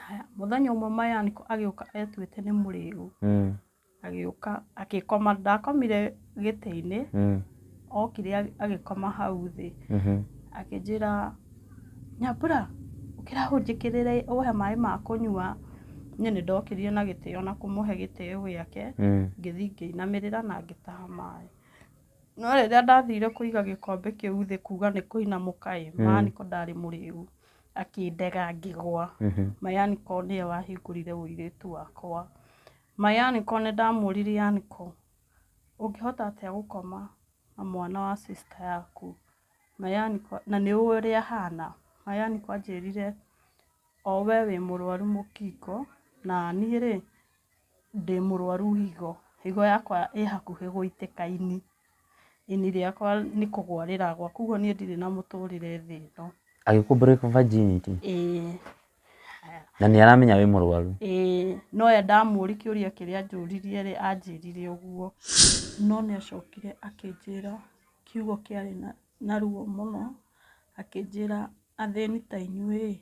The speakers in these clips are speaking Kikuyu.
Haya, mũthenya ũmwe mayaniko agĩũka etuĩte nĩ mũrĩu Mm. agĩũka agĩkoma ndakomire gĩtĩ-inĩ Mm. okire agĩ- agĩkoma hau thĩ Mhm. akĩnjĩra nyambura ũkĩra hũnjĩkĩrĩre ũhe maĩ ma kũnyua niĩ nĩ ndokĩrire na gĩtĩo na kũmũhe gĩtĩo gĩake Mm. ngĩthiĩ ngĩinamĩrĩra na ngĩtaha maĩ no rĩrĩa ndathire kũiga gĩkombe kĩu thĩ kuga nĩ kũinamũka ĩ Mm. mayaniko ndarĩ mũrĩu akĩndega ngĩgwa Mhm. mayaniko nĩwe wahingũrire ũirĩtu wakwa mayaniko nĩ ndamũrire yaniko ũngĩhota atĩa gũkoma na mwana wa sister yaku mayaniko na nĩ ũĩ ũrĩa ahana mayaniko anjĩrire o we wĩ mũrwaru mũkingo na niĩ rĩ ndĩ mũrwaru higo, higo yakwa ĩ hakuhĩ gũitĩka ini, ini rĩakwa nĩ kũgwa rĩragwa, koguo niĩ ndirĩ na mũtũrĩre thĩ ĩno. Agĩkũ break virginity? Ĩĩ. Na nĩ aramenya wĩ mũrwaru? Ĩĩ. No we ndamũũri kĩũria kĩrĩa anjũririe rĩ, anjĩrire ũguo. No nĩ acokire akĩnjĩra kiugo kĩarĩ na ruo mũno, akĩnjĩra, athĩni ta inyuĩ ĩĩ,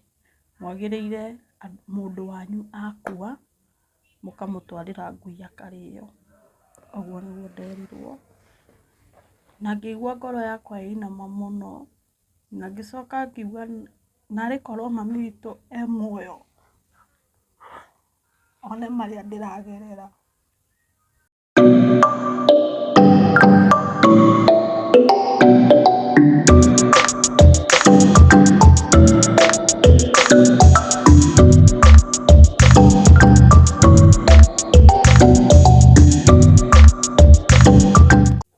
mwagĩrĩire mũndũ wanyu akua, mũkamũtwarĩra ngui akarĩo. Ũguo nĩguo nderirwo. Na ngĩigua ngoro yakwa ĩinama mũno, na ngĩcoka ngiuga narĩ korwo mami witũ e muoyo, one marĩa ndĩragerera.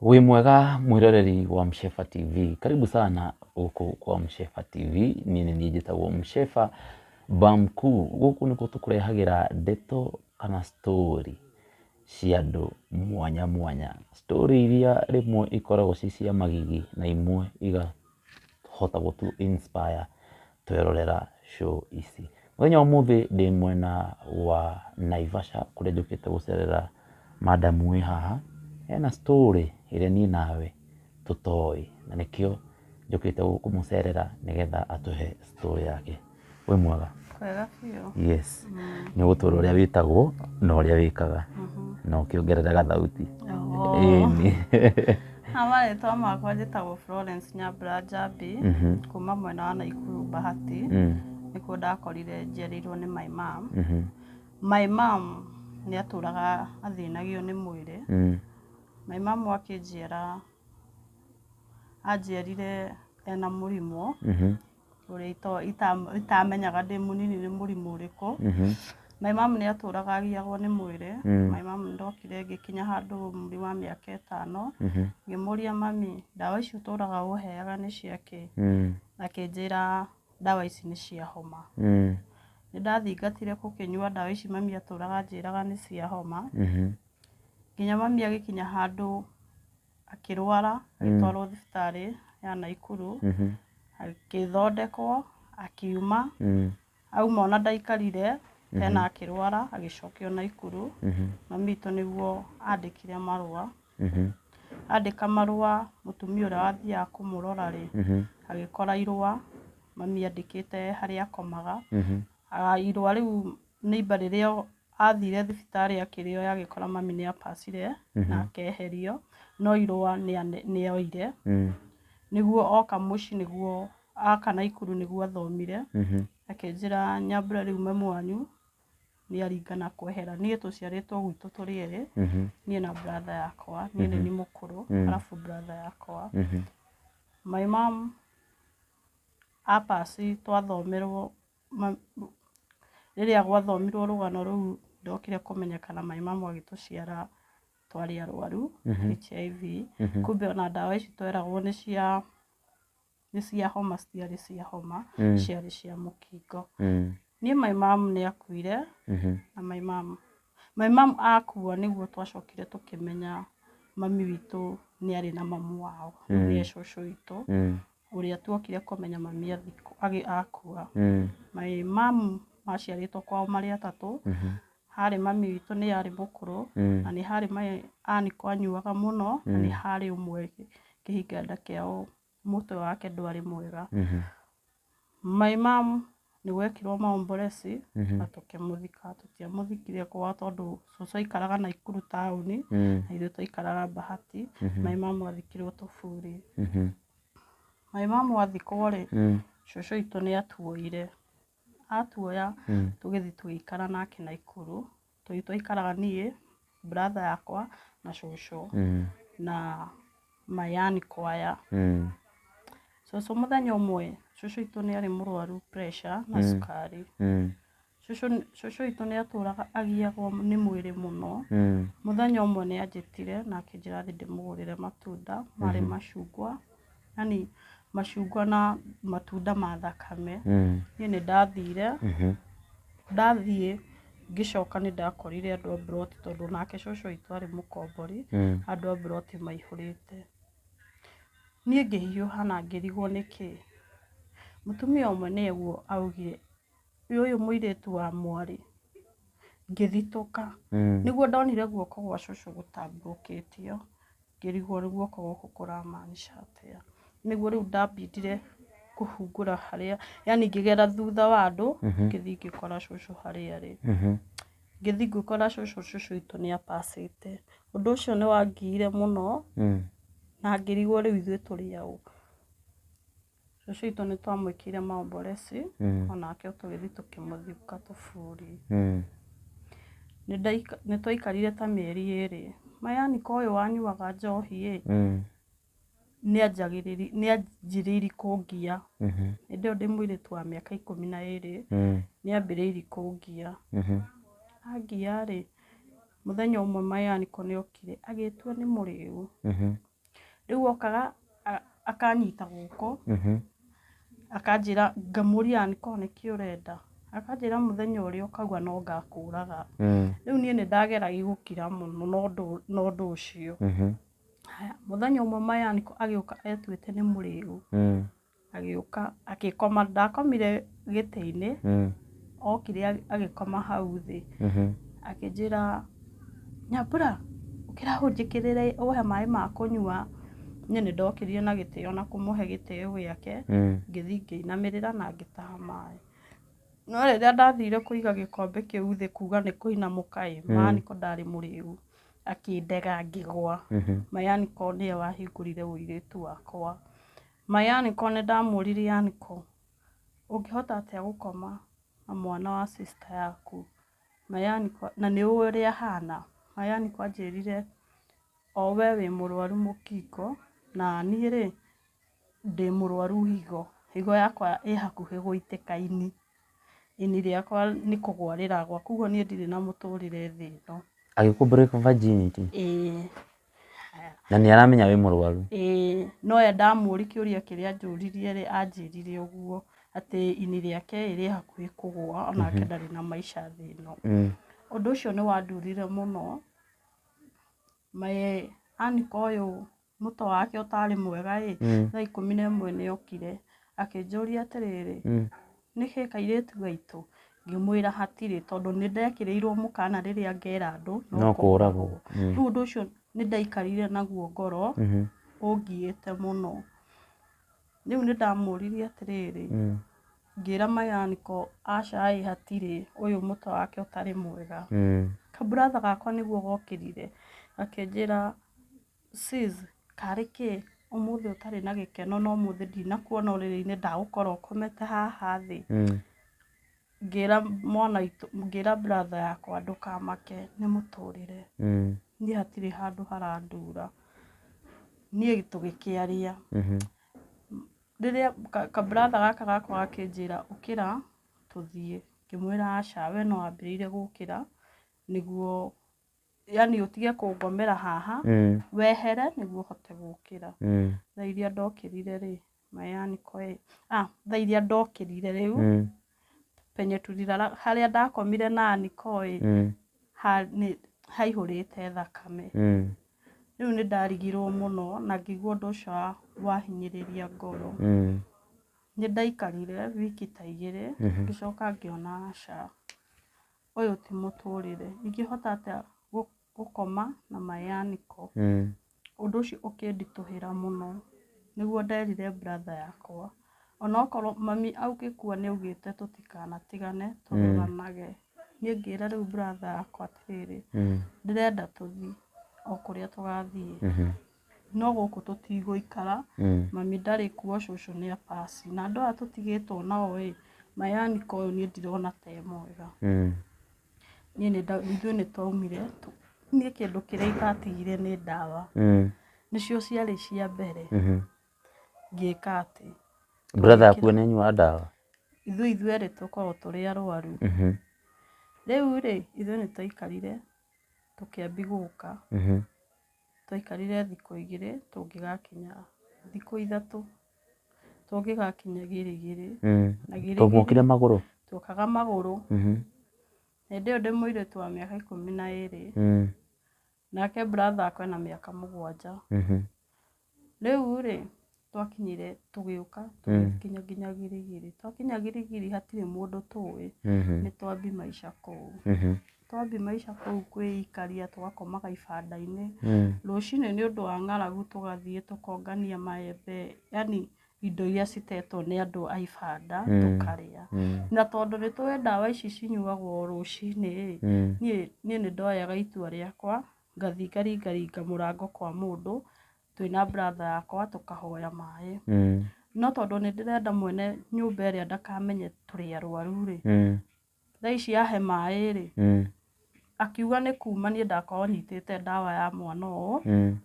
Wĩ mwega mwĩroreri wa Mshefa TV, karibu sana gũkũ kwa Mshefa TV. Niĩ nĩ niĩ njĩtagwo Mshefa Bamkuu. Gũkũ nĩkuo tũkũrehagĩra ndeto kana story cia andũ mwanya mwanya. Story iria rĩmwe ikoragwo ci cia magigi na imwe igahota gũtũ inspire twerorera show ici. Mũthenya wa ũmũthĩ ndĩ mwena wa Naivasha kũrĩa njũkĩte gũcerera madam wĩ haha, ena story ĩrĩa niĩ nawe tũtoĩ, na nĩkĩo njũkĩte kũmũcerera nĩgetha atũhe story yake. Wĩ mwega? Kwega biũ. Yes. Nĩ ũgũtwĩra ũrĩa wĩtagwo na ũrĩa wĩkaga na ũkĩongerere gathauti. Ĩni. Ha marĩtwa makwa njĩtagwo Florence Nyambura Njambi, kuma mwena wa Naikuru Bahati, nĩkuo ndakorire njiarĩirwo nĩ my mum. My mum nĩ atũraga athĩnagio nĩ mwĩrĩ. My mom akĩnjĩra anjiarire ena mũrimũ ũrĩa ito- ita- itamenyaga ndĩ mũnini nĩ mũrimũ ũrĩkũ my mom nĩ atũraga agiyagwo nĩ mwĩrĩ my mom ndokire ngĩkinya handũ ũmri wa mĩaka ĩtano ngĩmũria mami ndawa ici ũtũraga ũheaga nĩ cia kĩ akĩnjĩra ndawa ici nĩ cia homa nĩ ndathingatire gũkĩnyua ndawa ici mami atũraga anjĩraga nĩ cia homa Nginya mami agĩkinya handũ akĩrwara agĩtwarwo thibitarĩ ya Naikuru, agĩthondekwo, akiuma, auma ona ndaikarire tena akĩrwara agĩcokio Naikuru. Mami witũ nĩguo andĩkire marũa, andĩka marũa mũtumia ũrĩa wathiaga kũmũrora rĩ, agĩkora irũa mami andĩkĩte harĩa akomaga, irũa rĩu... Neighbour rĩrĩa athire thibitarĩ akĩrĩo agĩkora mami nĩ abacire na akeherio no irũa nĩ oire nĩguo oka mũciĩ nĩguo oka Naikuru nĩguo athomire akĩnjĩra Nyambura rĩu mami wanyu nĩ aringana kwehera. Niĩ tũciarĩtwo gwitũ tũrĩ erĩ, niĩ na brother yakwa, niĩ nĩ niĩ mũkũrũ arabu brother yakwa. My mum a pass twathomera rĩrĩa gwathomirwo rũgano rũu ndokire kũmenya kana maĩ mamu agĩtũciara twarĩ arwaru HIV kumbe ona ndawa ici tweragwo nĩ cia nĩ cia homa citiarĩ cia homa ciarĩ cia mũkingo. Niĩ maĩ mamu nĩ akuire na maĩ mamu maĩ mamu akua nĩguo twacokire tũkĩmenya mami witũ nĩ arĩ na mamu wao nĩwe cũcũ witũ ũrĩa twokire kũmenya mami akua. My mum maciarĩtwo kwao marĩ atatũ, harĩ mami witũ nĩ arĩ mũkũrũ, na nĩ harĩ my uncle anyuaga mũno, na nĩ harĩ ũmwe kĩhinganda kĩao mũtwe wake ndwarĩ mwega. My mum Nĩ gwekirwo maomboreci na tũkĩmũthika. Tũtiamũthikire kwao tondũ cũcũ aikaraga Naikuru taũni na ithuĩ twaikaraga Bahati. Maĩ ma mwathikirwo Tũburi. Maĩ ma mwathikwo rĩ, cũcũ witũ nĩ atuoire. Atuoya tũgĩthiĩ tũgĩikara nake Naikuru Tũrĩ twaikaraga niĩ, brother yakwa na cũcũ Mm. na my yarn kwaya. Mm. Cũcũ mũthenya ũmwe, cũcũ itũ nĩ arĩ mũrwaru pressure na cukari. Mm. Cũcũ cũcũ itũ nĩ atũraga agiagwo nĩ mwĩrĩ mũno. Mm. Mũthenya ũmwe nĩ anjĩtire na akĩnjĩra thiĩ ndĩmũgũrĩre matunda marĩ macungwa yani macungwa na matunda ma thakame Mm. niĩ nĩ ndathire Mhm. ndathiĩ ngĩcoka nĩ ndakorire andũ a mburoti tondũ nake cũcũ witũ arĩ mũkombori Mm. andũ a mburoti maihũrĩte niĩ ngĩhiũha na ngĩrigwo nĩkĩ mũtumia ũmwe nĩguo augire "Ĩ ũyũ mũirĩtu wa mwarĩ ngĩthitũka Mm. nĩguo ndonire guoko gwa cũcũ gũtambũrũkĩtio Ngĩrigwo rĩu guoko gũkũ kũramaanisha atĩa. Nĩguo rĩu ndambindire kũhungũra harĩa, yani ngĩgera thutha wa andũ, mhm. ngĩthiĩ ngĩkora cũcũ harĩa arĩ. Mhm. Ngĩthiĩ ngĩkora cũcũ, cũcũ witũ nĩ apacĩte. Ũndũ ũcio nĩ wangiire mũno, mm. na ngĩrigwo rĩu ithuĩ tũrĩ aũ. Cũcũ witũ nĩ twamwĩkĩire maomboreci, o nake tũgĩthiĩ tũkĩmũthiũka tũburi. Nĩ twaikarire ta mĩeri ĩrĩ, my auncle ũyũ wanyuaga njohi ĩ, nĩ anjĩrĩirie kũngia. Hĩndĩ ĩyo ndĩ mũirĩtu wa mĩaka ikũmi na ĩrĩ, nĩ ambĩrĩirie kũngia. Angia rĩ, mũthenya ũmwe my auncle nĩ okire agĩtua nĩ mũrĩu. rĩu okaga akanyita guoko mhm. akanjĩra ngamũria angĩkorwo nĩkĩ ũrenda akanjĩra mũthenya ũrĩa ũkauga no ngakũraga mm. rĩu niĩ nĩ ndageragia gũkira mũno na ũndũ ũcio mhm. mũthenya ũmwe maya agĩũka etuĩte nĩ mũrĩu mm. Agĩũka agĩkoma, ndakomire gĩtĩ-inĩ, okire agĩkoma hau thĩ, akĩnjĩra, Nyambura, ũkĩra ũnjĩkĩrĩre ũhe maĩ ma kũnyua. Niĩ nĩ ndokire na gĩtĩo na kũmũhe gĩtĩo gĩake, ngĩthiĩ ngĩinamĩrĩra na ngĩtaha maĩ. No rĩrĩa ndathire kũiga gĩkombe kĩu thĩ kuga nĩ kũinamũka ĩ, yaani ko ndarĩ mũrĩu, akĩndega ngĩgwa, ma yaani ko nĩwe wahingũrire ũirĩtu wakwa. My Yaniko nĩ ndamũũririe Yaniko ũngĩhota atĩa gũkoma na mwana wa sister yaku? My Yaniko na nĩ ũĩ ũrĩa ahana? My Yaniko anjĩrire o we wĩ mũrwaru mũkingo na niĩ rĩ ndĩ mũrwaru higo. Higo yakwa ĩ hakuhĩ gũitĩka ini. Ini rĩakwa nĩ kũgũa rĩragũa kwoguo niĩ ndirĩ na mũtũrĩre thĩ ĩno. Agĩkũ break virginity? Ĩĩ. Na nĩ aramenya wĩ mũrwaru. Ĩĩ, no oya ndamũũri kĩũria kĩrĩa anjũririe rĩ, anjĩrire ũguo atĩ ini rĩake ĩĩ rĩ hakuhĩ kũgũa o nake ndarĩ na maica thĩ ĩno. Ũndũ ũcio nĩ wandurire mũno. My uncle ũyũ mũtwe wake ũtarĩ mwega ĩĩ, thaa ikũmi na ĩmwe nĩ okire akĩnjũria atĩrĩrĩ, Nĩkĩ kairĩtu gaitũ? Ngĩmwĩra hatirĩ tondũ nĩ ndekĩrĩirwo mũkana rĩrĩa ngera andũ no kũragwo. Rĩu ũndũ ũcio nĩ ndaikarire naguo ngoro ũngiĩte mũno. Rĩu nĩ ndamũririe atĩrĩrĩ, ngĩra my uncle aca ĩ hatirĩ ũyũ mũtwe wake ũtarĩ mwega. Ka brother gakwa nĩguo gokĩrire gakĩnjĩra Sis, karĩ kĩ ũmũthĩ ũtarĩ na gĩkeno na ũmũthĩ ndinakuona ũrĩrĩ-inĩ ndagũkora ũkomete haha thĩ? Ngĩra mwana witũ, ngĩra brother yakwa ndũkamake nĩ mũtũrĩre. Niĩ hatirĩ handũ harandura. Niĩ tũgĩkĩaria, rĩrĩa ka brother gaka gakwa gakĩnjĩra ũkĩra tũthiĩ, ngĩmwĩra aca we nĩ wambĩrĩire gũkĩra nĩguo... yani ũtige kũngomera haha mm. wehere nĩguo hote gũkĩra mm. thaa iria ndokĩrire rĩ mayani koe ah, thaa iria ndokĩrire rĩu mm. penye tulilala harĩa ndakomire na nikoe mm. ha, nĩ haihũrĩte thakame mm. rĩu nĩ ndarigirwo mũno na ngĩigua ũndũ ũcio wahinyĩrĩria ngoro mm. nĩ ndaikarire wiki ta igĩrĩ mm-hmm. ngĩcoka ngĩona aca Ũyũ ti mũtũrĩre. Ingĩhota atĩa gũkoma na mayanĩko? Ũndũ ũcio ũkĩnditũhĩra mũno. Nĩguo nderire brother yakwa. Ona okorwo mami agĩkua nĩ augĩte tũtikanatigane, tũruranage. Niĩ ngĩra rĩu brother yakwa atĩrĩrĩ, ndĩrenda tũthiĩ o kũrĩa tũgathiĩ. no gũkũ tũtigũikara mm. mami ndarĩ kuo cũcũ nĩ apasi na andũ aya tũtigĩtwo nao ĩ mayanika ũyũ niĩ ndirona te mwega mm. niĩ ithuĩ nĩ twaumire niĩ kĩndũ kĩrĩa itatigire nĩ ndawa mm. nĩcio ciarĩ cia mbere mm-hmm. ngĩka atĩ brother akuo nĩ anyua ndawa ithuĩ ithuĩ erĩ tũkoragwo tũrĩ arwaru mm-hmm. rĩu rĩ ithuĩ nĩ twaikarire tũkĩambi gũka mm-hmm. twaikarire thikũ igĩrĩ tũngĩgakinya thikũ ithatũ tũngĩgakinya Girigiri Mm. na Girigiri Tũmokire magũrũ. twokaga magũrũ Mhm. hĩndĩ ĩyo ndĩ mũirĩtu wa mĩaka ikũmi na ĩrĩ Mm. nake brother akwa ena mĩaka mũgwanja Mhm. rĩu rĩ twakinyire tũgĩũka tũgĩkinya nginya girigiri twakinya girigiri hatirĩ mũndũ tũĩ Mhm. nĩ twambi maica kũu Mhm. twambi maica kũu kwĩikaria tũgakomaga ibanda-inĩ Mm. rũcinĩ nĩ ũndũ wa ng'aragu tũgathiĩ tũkongania maembe yani indo iria citetwo nĩ andũ a ibanda Mm. tũkarĩa Mm. na tondũ nĩ tũĩ ndawa ici cinyuagwo rũcinĩ rĩ Mm. niĩ niĩ nĩ ndoyaga itua rĩakwa ngathiĩ ngaringaringa mũrango kwa mũndũ twĩna brother yakwa tũkahoya maĩ. Mm. No tondũ nĩ ndĩrenda mwene nyũmba ĩrĩa ndakamenye tũrĩ arwaru rĩ, mm. thaa ici yahe maĩ rĩ, mm. akiuga nĩ kuma niĩ ndakorwo nyitĩte ndawa ya mwana ũũ mm.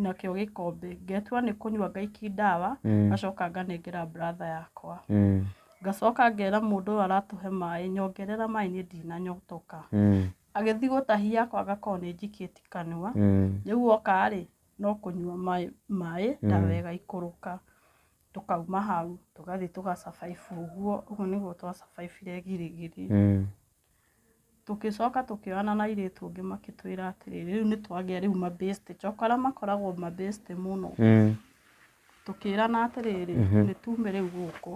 nakĩo gĩkombe ngetua nĩ kũnyua ngaiki ndawa mm. ngacoka nganengera brother yakwa mm. ngacoka ngera mũndũ ũyũ aratũhe maĩ nyongerera maĩ niĩ ndinanyotoka mm. Agĩthiĩ gũtahia ako agakorwo nĩ njikĩti kanua, rĩu oka rĩ no kũnyua maĩ ndawa ĩgaikũrũka, tũkauma hau tũgathiĩ tũga survive ũguo, ũguo nĩguo twa survive -ire girigiri, tũgĩcoka tũkĩonana na airĩtu angĩ magĩtwĩra atĩrĩ rĩu nĩ twagĩa rĩu ma best joka arĩa makoragwo ma best mũno, tũkĩrana atĩrĩrĩ nĩ tume rĩu gũkũ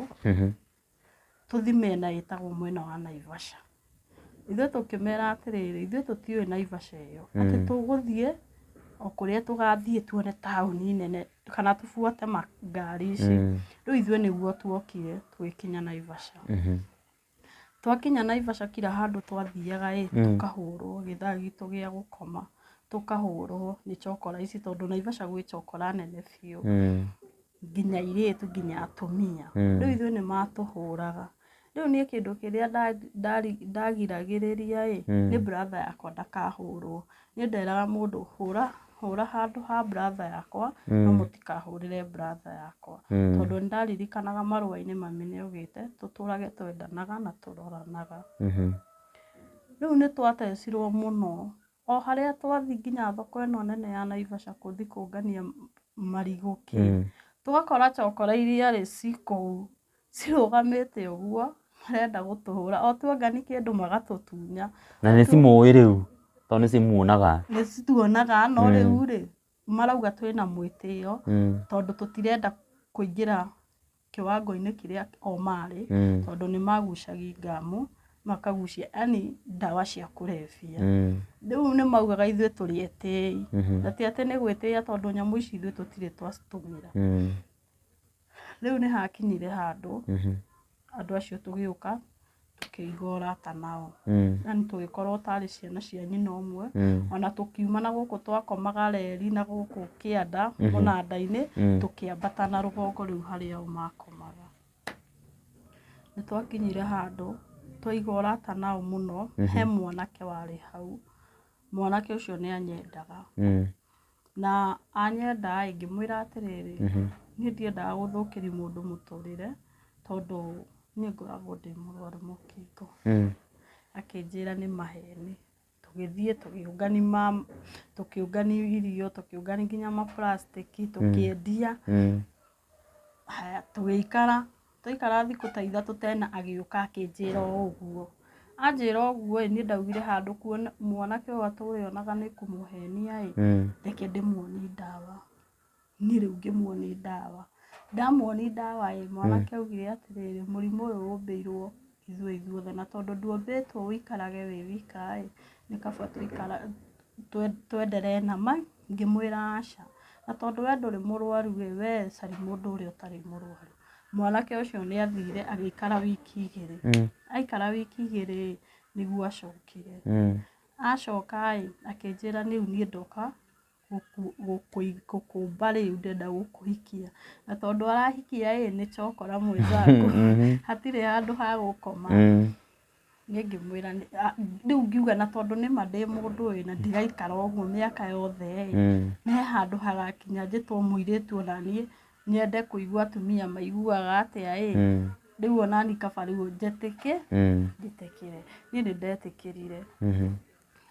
tũthi mĩena ĩtagwo mwena wa Naivasha. Ithuĩ tũkĩmera atĩrĩrĩ, ithuĩ tũtiũĩ Naivasha ĩyo. Mm. Atĩ tũgũthiĩ o kũrĩa tũgathiĩ tuone taũni nene kana tũbuate ngari ici. Mm. Rĩu ithuĩ nĩguo tuokire tũgĩkinya Naivasha. Mm-hmm. Twakinya Naivasha kira handũ twathiaga ĩ, mm. tũkahũrwo gĩthaa gitũ gĩa gũkoma tũkahũrwo nĩ cokora ici tondũ Naivasha gwĩ cokora nene biũ. Mm. nginya airĩtu nginya atumia Mm. rĩu ithuĩ nĩ matũhũraga rĩu niĩ kĩndũ kĩrĩa nda- ndari- ndagiragĩrĩria ĩ Mm. nĩ bratha yakwa ndakahũrwo niĩ nderaga mũndũ hũra hũra handũ ha bratha yakwa no Mm. mũtikahũrĩre bratha yakwa Mm. tondũ nĩ ndaririkanaga marũa-inĩ mami nĩ augĩte tũtũrage twendanaga na tũroranaga Mhm. rĩu nĩ twatecirwo mũno O harĩa twathiĩ nginya thoko ĩno nene ya Naivasha gũthiĩ kũngania marigũ kĩ, tũgakora cokora iria rĩ ci kũu cirũgamĩte ũguo marenda gũtũhũra. O tuongania kĩndũ magatũtunya. Na nĩ cimũĩ rĩu tondũ nĩ cimuonaga. Nĩ cituonaga no rĩu rĩ, marauga twĩna mwĩtĩo tondũ tũtirenda kũingĩra kĩwango-inĩ kĩrĩa o marĩ, Mm. tondũ nĩ magucagia ngamũ, makagucia yani ndawa cia kũrebia. Mm. Rĩu nĩ maugaga ithuĩ tũrĩ etĩi, Mhm. na ti atĩ nĩ gwĩtĩia tondũ nyamũ ici ithuĩ tũtirĩ twacitũmĩra. Mm. Rĩu nĩ hakinyire handũ Mhm. andũ acio tũgĩũka tũkĩiga ũrata nao Mm. yani tũgĩkorwo tarĩ ciana cia nyina ũmwe Mm. ona tũkiuma na gũkũ twakomaga reri na gũkũ kĩanda Mhm. mũnanda-inĩ Mm. tũkĩambata na rũgongo rĩu harĩa o makomaga nĩ twakinyire handũ twaiga ũrata nao mũno Mhm. he mwanake warĩ hau mwanake ũcio nĩ anyendaga Mm. Na anyenda-ĩ, ngĩmwĩra atĩrĩrĩ, niĩ ndiendaga gũthũkĩria mũndũ mũtũrĩre, tondũ niĩ ngoragwo ndĩ mũrwaru mũkingo. Akĩnjĩra nĩ maheni. Tũgĩthiĩ tũkĩũngania ma, tũkĩũngania irio, tũkĩũngania kinya ma plastic, tũkĩendia. Haya tũgĩikara, twaikara thikũ ta ithatũ tena agĩũka akĩnjĩra o ũguo. Anjĩra ũguo ĩ, niĩ ndaugire handũ kuona mwanake ũyũ atũre onaga nĩ kũmũhenia ĩ, reke ndĩmuonie ndawa. Niĩ rĩu ngĩmuonia ndawa. Ndamuonia ndawa ĩ, mwanake augire atĩrĩrĩ, mũrimũ ũyũ ũmbĩirwo. ithuĩ ithuothe, na tondũ ndwombĩtwo ũikarage wĩ wika ĩ, nĩ kaba tũikara, twenderee na ma, ngĩmwĩra aca, na tondũ we ndũrĩ mũrwaru ĩ, we caria mũndũ ũrĩa ũtarĩ mũrwaru. Mwanake ũcio nĩ athire agĩikara wiki igĩrĩ, aikara wiki igĩrĩ ĩ, nĩguo acokire, acoka ĩ, akĩnjĩra rĩu niĩ ndoka gũkũmba rĩu ndenda gũkũhikia. Na tondũ arahikia ĩĩ nĩ chokora mwenzangu, hatirĩ handũ ha gũkoma. Niĩ ngĩmwĩra rĩu ngiuga na tondũ nĩ ma ndĩ mũndũ ĩĩ na ndiraikara ũguo mĩaka yothe ĩĩ, nĩ he handũ hagakinya njĩtwo mũirĩtu o na niĩ nyende kũigua atumia maiguaga atĩa ĩĩ, rĩu o na niĩ kaba rĩu njĩtĩkĩre. Niĩ nĩ ndetĩkĩrire.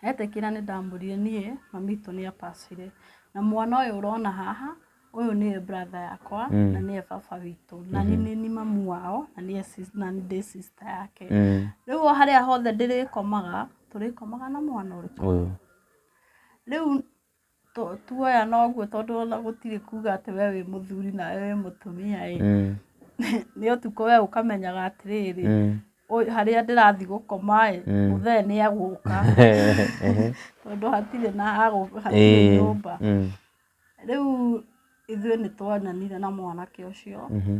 Etĩkĩra nĩ ndamũrire niĩ mamitũ nĩ abacire. Na mwana ũyũ ũrona haha ũyũ nĩwe brother yakwa mm. na nĩwe baba witũ na mm -hmm. nĩ mamu wao na nĩwe na ndĩ sister yake mm. rĩu o harĩa hothe ndĩrĩkomaga tũrĩkomaga na mwana ũrĩkũ rĩu tũ- tuoya noguo tondũ ona gũtirĩ kuga atĩ we wĩ mũthuri nawe wĩ mũtumia ĩ Mm. nĩ ũtukũ we ũkamenyaga atĩrĩrĩ Mm. ũyũ- harĩa ndĩrathi gũkoma ĩ Mm. mũthee nĩ egũka Ehe. tondũ hatirĩ na agũ- hatirĩ Ĩĩ. nyũmba Mm. rĩu ithuĩ nĩ twananire na mwanake ũcio Mhm.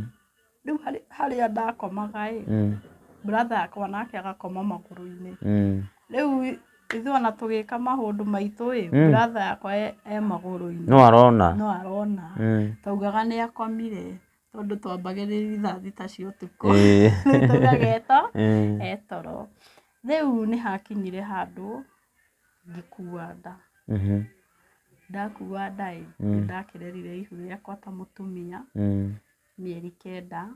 rĩu harĩ- harĩa ndakomaga ĩ Mm. brother akwa nake agakoma magũrũ-inĩ Mm. rĩu ithuĩ ona tũgĩka maũndũ maitũ ĩ Mm. brother yakwa e e magũrũ-inĩ no arona no arona Mm. twaugaga nĩ akomire tondũ twambagĩrĩria thaa thita cia ũtukũ Ĩĩ. Rĩu twaugaga eto Mm. etoro rĩu nĩ hakinyire handũ ngĩkua nda Mhm. ndakua nda ĩ Mm. nĩ ndakĩrerire ihu rĩakwa ta mũtumia Mm. mĩeri kenda.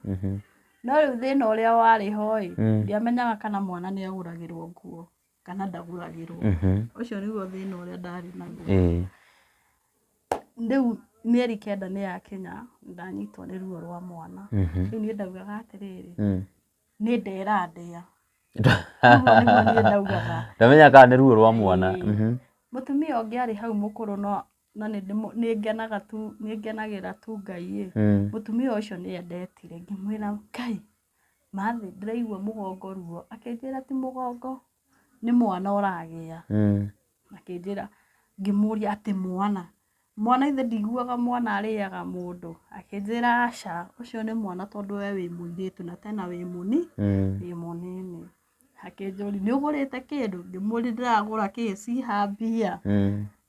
No rĩu thĩna ũrĩa warĩ ho-ĩ, ndiamenyaga kana mwana nĩagũragĩrwo nguo kana ndagũragĩrwo. Ũcio nĩguo thĩna ũrĩa ndarĩ naguo. Rĩu mĩeri kenda nĩyakinya, nĩndanyitwo nĩ ruo rwa mwana. Rĩu niĩ ndaugaga atĩrĩrĩ, nĩ nda ĩrandĩa. Ũguo nĩguo niĩ ndaugaga. Ndamenyaga kana nĩ ruo rwa mwana. Mũtumia ũngĩ arĩ hau mũkũrũ no no nĩ ndĩmũ- nĩ ngenaga tu nĩ ngenagĩra tu ngai ĩ Mm. mũtumia ũcio nĩ endetire ngĩmwĩra ngai mathĩ ndĩraigua mũgongo ruo akĩnjĩra ti mũgongo nĩ mwana ũragĩa Mm. akĩnjĩra ngĩmũria atĩ mwana mwana ithe ndiguaga mwana arĩaga mũndũ akĩnjĩra aca ũcio nĩ mwana tondũ we wĩ mũirĩtu na tena wĩ mũni Mm. wĩ mũnini akĩnjũria nĩ ũgũrĩte kĩndũ ngĩmũria ndĩragũra kĩĩ ciha mbia Mm.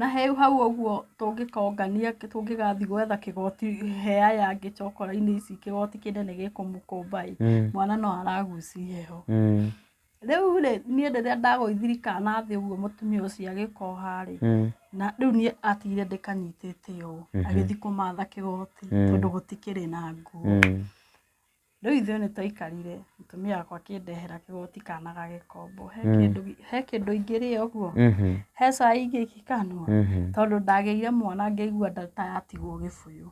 Na he hau ũguo tũngĩkongania tũngĩgathiĩ gwetha kĩgoti he aya angĩ cokora-inĩ ici kĩgoti kĩnene gĩkũmũkũmba ĩ, Mm. mwana no araguci heho. Mm. Rĩu rĩ, niĩ rĩrĩa ndagũithiri kana thĩ ũguo mũtumia ũcio agĩkoha rĩ, Mm. na rĩu niĩ atigire ndĩkanyitĩte ũũ, Mhm. agĩthiĩ kũmatha kĩgoti Mm. tondũ gũtikĩrĩ na nguo. Mm. Rĩu ithuĩ nĩ twaikarire mũtumia wakwa akĩndehera kĩgoti kana ga gĩkombo. He kĩndũ gi- he kĩndũ ingĩrĩa ũguo, Mhm. he cai ingĩkanua, Mhm. tondũ ndagĩire mwana ngĩigua nda ta yatigwo gĩbũyũ.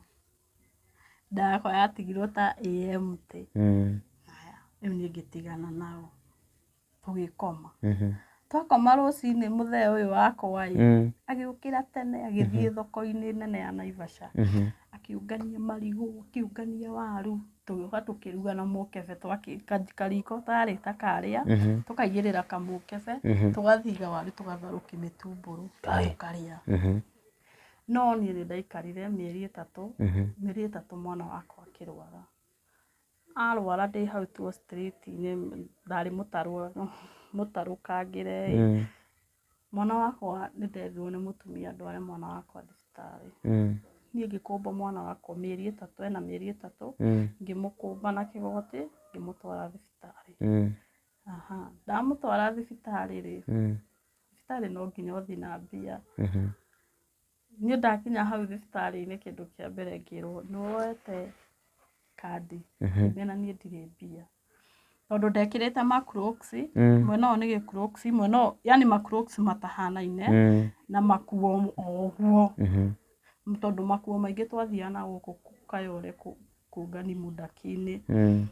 Nda yakwa yatigirwo ta ĩ empty. Mm. Rĩu niĩ ngĩtigana nao. tũgĩkoma twakoma rũcinĩ mũthee ũyũ wakwa ĩ Mm. agĩũkĩra tene agĩthiĩ thoko-inĩ nene ya naivasha Mhm. akĩũngania marigũ akĩũngania waru tũgĩũka tũkĩruga na mũkebe twakĩ- ka- kariko tarĩ ta karĩa Mhm. tũkaigĩrĩra kamũkebe Mhm. tũgathiga waru tũgatharũkia mĩtumbũrũ Ai. tũkarĩa Mhm. no niĩ nĩ ndaikarire mĩeri ĩtatũ Mhm. mĩeri ĩtatũ mwana wakwa akĩrwara Arwara ndĩ hau tuo street -inĩ ndarĩ mũtarũkangĩre ĩ, mwana wakwa nĩ nderirwo nĩ mũtumia ndware mwana wakwa thibitarĩ. Niĩ ngĩkũmba mwana wakwa mĩeri ĩtatũ ena mĩeri ĩtatũ, ngĩmũkũmba na kĩgoti ngĩmũtwara thibitarĩ. Ndamũtwara thibitarĩ rĩ, thibitarĩ no nginya ũthiĩ na mbia. Niĩ ndakinya hau thibitarĩ-inĩ kĩndũ kĩa mbere ngĩrwo nĩ woete kandi ngĩmenya na niĩ ndirĩ mbia. Tondũ ndekĩrĩte ma crocs mwena ũyũ nĩ gĩ crocs mwena ũyũ yaani ma crocs matahanaine na makuo o ũguo. Tondũ makuo maingĩ twathiaga nagũkũ Kayole kũu. kũngani mũdaki-inĩ Mm.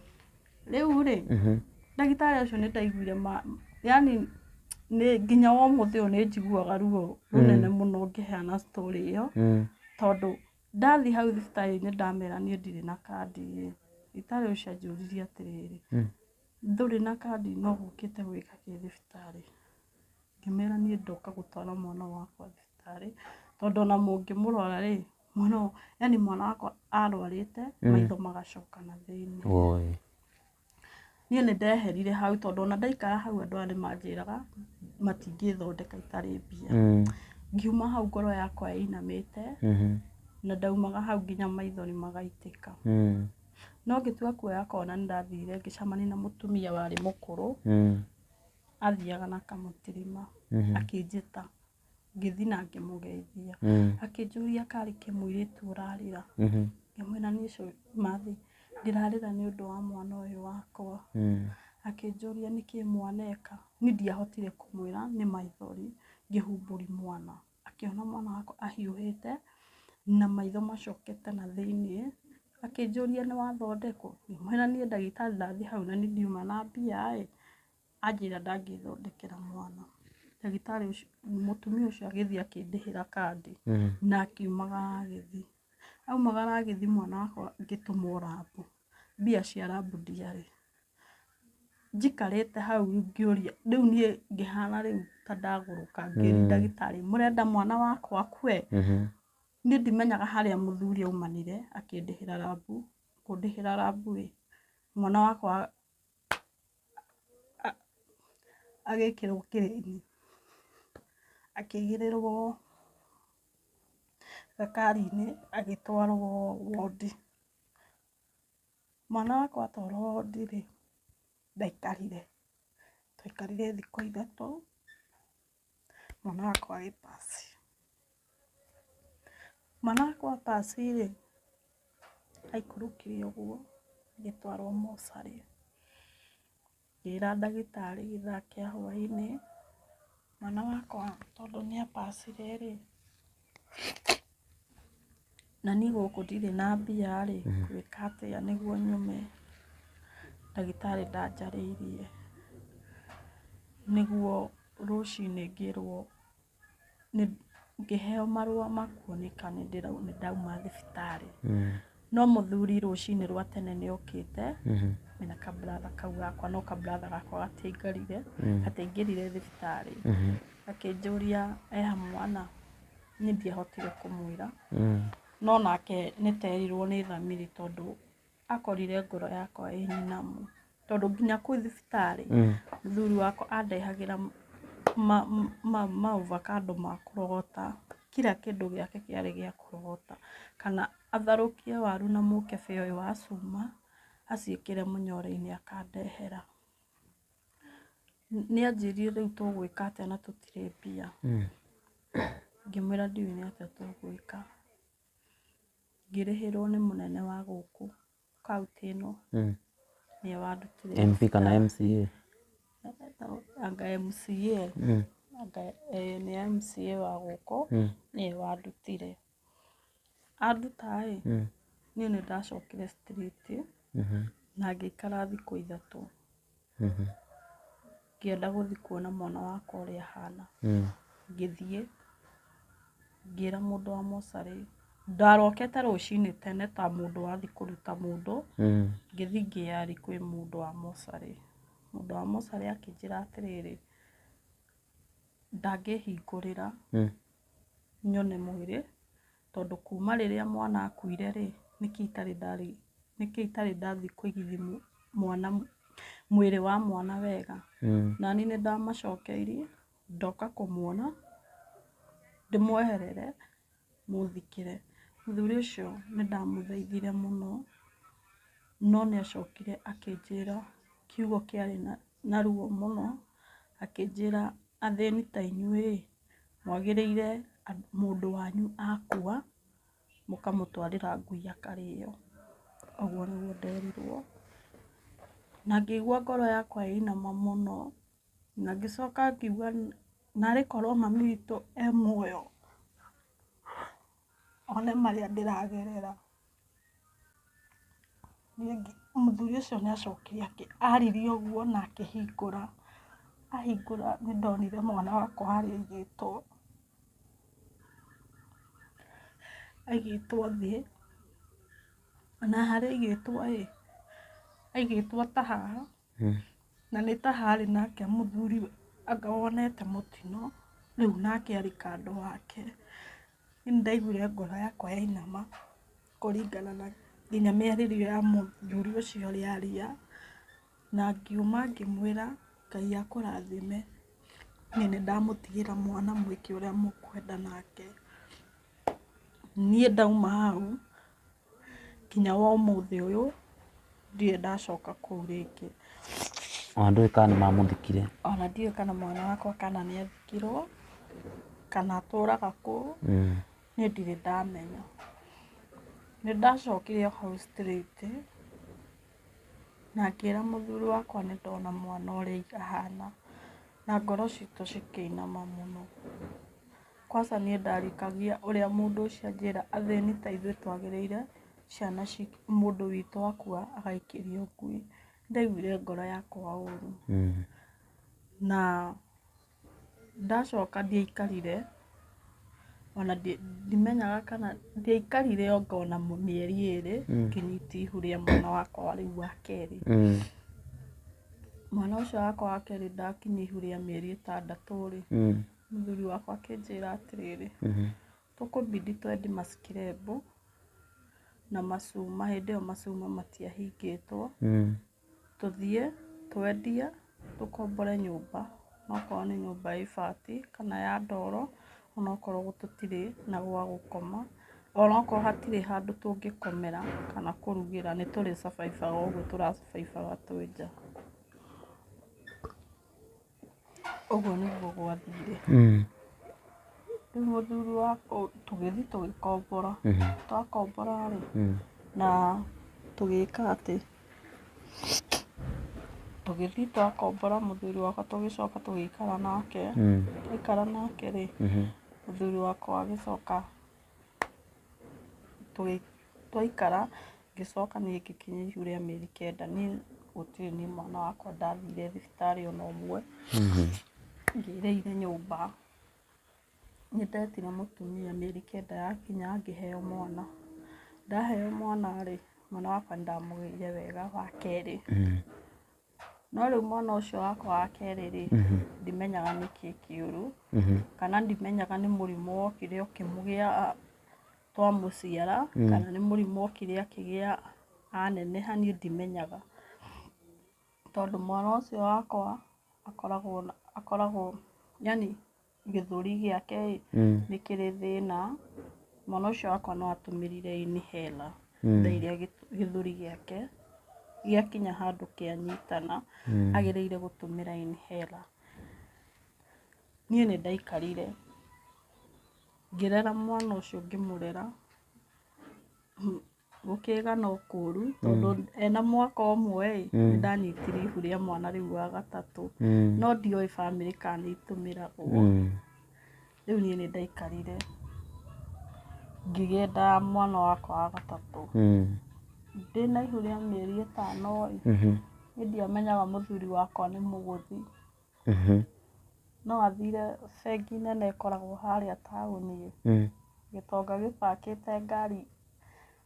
rĩu rĩ Mhm. ndagĩtarĩ ũcio nĩ ndaiguire ma yani nĩ nginya wa ũmũthĩ ũyũ nĩ njiguaga ruo rũnene mũno ngĩheana story ĩyo Mm. tondũ ndathiĩ hau thibitarĩ-inĩ ndamera niĩ ndirĩ na kandi ĩ thibitarĩ ũcio anjũririe atĩrĩrĩ Mm. ndũrĩ na kandi no gũkĩte gwĩka kĩ thibitarĩ ngĩmera niĩ ndoka gũtwara mwana wakwa thibitarĩ tondũ ona mũngĩmũrora rĩ mwana ũyũ- yani mwana wakwa arwarĩte maitho magacoka na thĩinĩ Woi. niĩ nĩ ndeherire hau tondũ ona ndaikara hau andũ aya nĩ manjĩraga matingĩthondeka itarĩ mbia Mm. ngiuma hau ngoro yakwa ĩinamĩte Mhm. na ndaumaga hau nginya maithori magaitĩka Mm. no ngĩtua kuoya kona nĩ ndathire ngĩcamania na mũtumia warĩ mũkũrũ Mm. athiaga na kamũtirima Mhm. akĩnjĩta ngĩthiĩ na ngĩmũgeithia mm. akĩnjũria karĩ kĩmũirĩtu ũrarĩra mhm. ngĩmwĩra nĩ ũcio mathi ndĩrarĩra nĩ ũndũ wa mwana ũyũ wakwa mm. akĩnjũria nĩkĩ mwana eka niĩ ndiahotire kũmwĩra nĩ maithori ngĩhumbũri mwana akĩona mwana wakwa ahiũhĩte na maitho macokete na thĩinĩ akĩnjũria nĩ wathondekwo ngĩmwĩra niĩ ndagĩtarĩ ndathiĩ hau na nĩ ndiuma na mbia ĩ Anjĩra ndangĩthondekera mwana. Ndagĩtarĩ ũcio, mũtumia ũcio agĩthiĩ akĩndĩhĩra kandi na akiumagara agĩthiĩ. Aumagara agĩthiĩ mwana wakwa ngĩtũmwo rabu, mbia cia rabu ndiarĩ. Njikarĩte hau rĩu ngĩũria, rĩu niĩ ngĩhana rĩu ta ndagũrũka ngĩũria ndagĩtarĩ, mũrenda mwana wakwa akue? Niĩ ndimenyaga harĩa mũthuri aumanire akĩndĩhĩra rabu, kũndĩhĩra rabu ĩ, mwana wakwa agekĩrwo kĩrĩinĩ, akĩigĩrĩrwo gakarinĩ agĩtwarwo wondi. Mwana wakwa atwarwo wondi rĩ, ndaikarire, twaikarire thikũ ithatũ. mwana wakwa wĩ pasi. Mwana wakwa pasi rĩ, aikũrũkire ũguo agĩtwarwo mocarĩ. Ngĩra ndagĩtarĩ gĩthaa kĩa hwainĩ, mwana wakwa tondũ nĩ a pacire rĩ. Na niĩ gũkũ ndirĩ na mbia rĩ, ngwĩka atĩa nĩguo nyone ndagĩtarĩ ndanjarĩirie, nĩguo rũcinĩ ngĩrwo ngĩheo marũa ma kuoneka nĩ ndauma thibitarĩ. No mũthuri rũcinĩ rwa tene nĩ okĩte mena kabratha kau gakwa, no kabratha gakwa gatiaingarire, gatiaingĩrire thibitarĩ. Akĩnjũria eha mwana, niĩ ndiahotire kũmwĩra, no nake nĩ ta erirwo nĩ thamiri tondũ akorire ngoro yakwa ĩ nyinamu. tondũ nginya kwĩ thibitarĩ mm. mũthuri wakwa andehagĩra maovakando ma kũrogota kira kĩndũ gĩake kĩarĩ gĩa kũrogota kana atharũkie waru na mũkebe ũyũ wa cuma aciĩkĩre mũnyore-inĩ akandehera nĩ anjĩrire rĩu tũgwĩka atĩa na tũtirĩ mbia mm. ngĩmwĩra ndiũĩ nĩ atĩa tũgwĩka ngĩrĩhĩrwo nĩ mũnene wa gũkũ kaunti ĩno Mm. nĩyo wandutire MP kana MCA anga MCA Mm. anga eh, nĩ MCA wa gũkũ Mm. nĩyo wandutire anduta ĩ Mm. niĩ nĩ ndacokire street Mhm. na ngĩikara thikũ ithatũ Mhm. ngĩenda gũthiĩ kuona mwana wakwa ũrĩa ahana Mm. ngĩthiĩ ngĩra mũndũ wa mocarĩ ndarokete rũcinĩ tene ta mũndũ wathiĩ kũruta mũndũ Mm. ngĩthiĩ ngĩyarĩ kwĩ mũndũ wa mocarĩ mũndũ wa mocarĩ akĩnjĩra atĩrĩrĩ ndangĩhingũrĩra Mm. nyone mwĩrĩ Tondũ kuuma rĩrĩa mwana aakuire-rĩ, nĩkĩ itarĩ ndarĩ, nĩkĩ itarĩ ndathiĩ kũigithia mwana, mwĩrĩ wa mwana wega? Nani nĩndamacokeirie, ndoka kũmuona, ndĩmweherere, mũthikĩre. Mũthuri ũcio nĩndamũthaithire mũno, no nĩacokire akĩnjĩra kiugo kĩarĩ na ruo mũno, akĩnjĩra, athĩni ta inyuĩ-ĩ, mwagĩrĩire mũndũ wanyu akua mũkamũtwarĩra ngui akarĩo. Ũguo nĩguo nderirwo na ngĩigua ngoro yakwa ĩinama mũno na ngĩcoka ngiuga narĩ korwo mami witũ e muoyo. one marĩa ndĩragerera. Mũthuri ũcio nĩ acokire aririe ũguo na akĩhingũra, ahingũra nĩ ndonire mwana wakwa harĩa aigĩtwo, aigĩtwo thĩ na harĩa aigĩtwo rĩ, aigĩtwo ta haha. hmm. na nĩ ta harĩ nake mũthuri anga wonete mũtino rĩu nake arĩ kando wake nĩ ndaiguire ngoro yakwa yainama kũringana na nginya mĩarĩrio ya mũthuri ũcio ũrĩa aria na ngiuma ngĩmwĩra ngai akũrathime nĩ nĩ ndamũtigĩra mwana mwĩke ũrĩa mũkwenda nake niĩ ndauma hau Nginya wa ũmũthĩ ũyũ ndirĩ ndacoka kũu rĩngĩ. Ona ndũĩ kana nĩ mamũthikire. Ona ndiũĩ kana mwana wakwa kana nĩ athikirwo kana atũraga kũu, niĩ ndirĩ ndamenya. Nĩ ndacokire o hau straight na ngĩra mũthuri wakwa nĩ ndona mwana ũrĩa ahana na ngoro citũ cikĩinama mũno. Kwaca niĩ ndarĩkagia ũrĩa mũndũ ũcio anjĩra athĩni ta ithuĩ twagĩrĩire ciana ci mũndũ witũ akua agaikĩrio ngui. Nĩ ndaiguire ngoro yakwa ũru. Na ndacoka ndiaikarire ona ndimenyaga kana ndiaikarire anga ona mĩeri ĩrĩ ngĩnyita ihu rĩa mwana wakwa rĩu wa kerĩ. Mwana ũcio wakwa wa kerĩ ndakinyia ihu rĩa mĩeri ĩtandatũ rĩ, Mũthuri wakwa akĩnjĩra atĩrĩrĩ, tũkũbidi twendi macikirebu na macuma, hĩndĩ ĩyo macuma matiahingĩtwo, tũthiĩ twendie tũkombore nyũmba, onokorwo nĩ nyũmba ya ibati kana ya ndoro, onokorwo tũtirĩ na gwa gũkoma, onokorwo hatirĩ handũ tũngĩkomera kana kũrugĩra, nĩ tũrĩ survive aga ũguo tũra survive aga twĩ nja. Ũguo nĩguo gwathire. Rĩu mũthuri wa tũgĩthiĩ tũgĩkombora. Twakombora rĩ, na tũgĩka atĩ, tũgĩthiĩ twakombora mũthuri wakwa tũgĩcoka tũgĩikara nake. Twaikara nake rĩ, mũthuri wakwa agĩcoka. Twaikara ngĩcoka niĩ ngĩkinyia ihu rĩa mĩeri kenda niĩ gũtirĩ niĩ mwana wakwa ndathire thibitarĩ ona ũmwe, ngĩrĩire nyũmba. Nĩ ndetire mũtumia mĩeri kenda yakinya ngĩheo mwana. Ndaheo mwana rĩ, mwana wakwa nĩ ndamũgĩire wega wa kerĩ. No rĩu mwana ũcio wakwa wa kerĩ rĩ, mhm. ndimenyaga nĩ kĩĩ kĩũru, mhm. kana ndimenyaga nĩ mũrimũ wokire ũkĩmũgĩa twamũciara, mm. kana nĩ mũrimũ wokire akĩgĩa aneneha niĩ ndimenyaga. Tondũ mwana ũcio wakwa akoragwo, akoragwo yani gĩthũri gĩake ĩ mm. nĩ kĩrĩ thĩna mwana ũcio wakwa no atũmĩrire inhela mm. thaa iria gĩthũri gĩake gĩakinya handũ kĩanyitana mm. agĩrĩire gũtũmĩra inhela niĩ nĩ ndaikarire ngĩrera mwana ũcio ngĩmũrera gũkĩga no kũru tondũ ena mwaka ũmwe ĩ nĩ ndanyitire ihu rĩa mwana rĩu wa gatatũ Mm. no ndioĩ bamĩrĩ kana nĩ itũmĩragwo Mm. rĩu niĩ nĩ ndaikarire ngĩgĩenda mwana wakwa wa gatatũ Mm. ndĩ na ihu rĩa mĩeri ĩtano ĩ Mhm. nĩ ndiamenyaga mũthuri wakwa nĩ mũgũthi No athire bengi nene ĩkoragwo harĩa taũni ĩ, gĩtonga gĩbakĩte ngari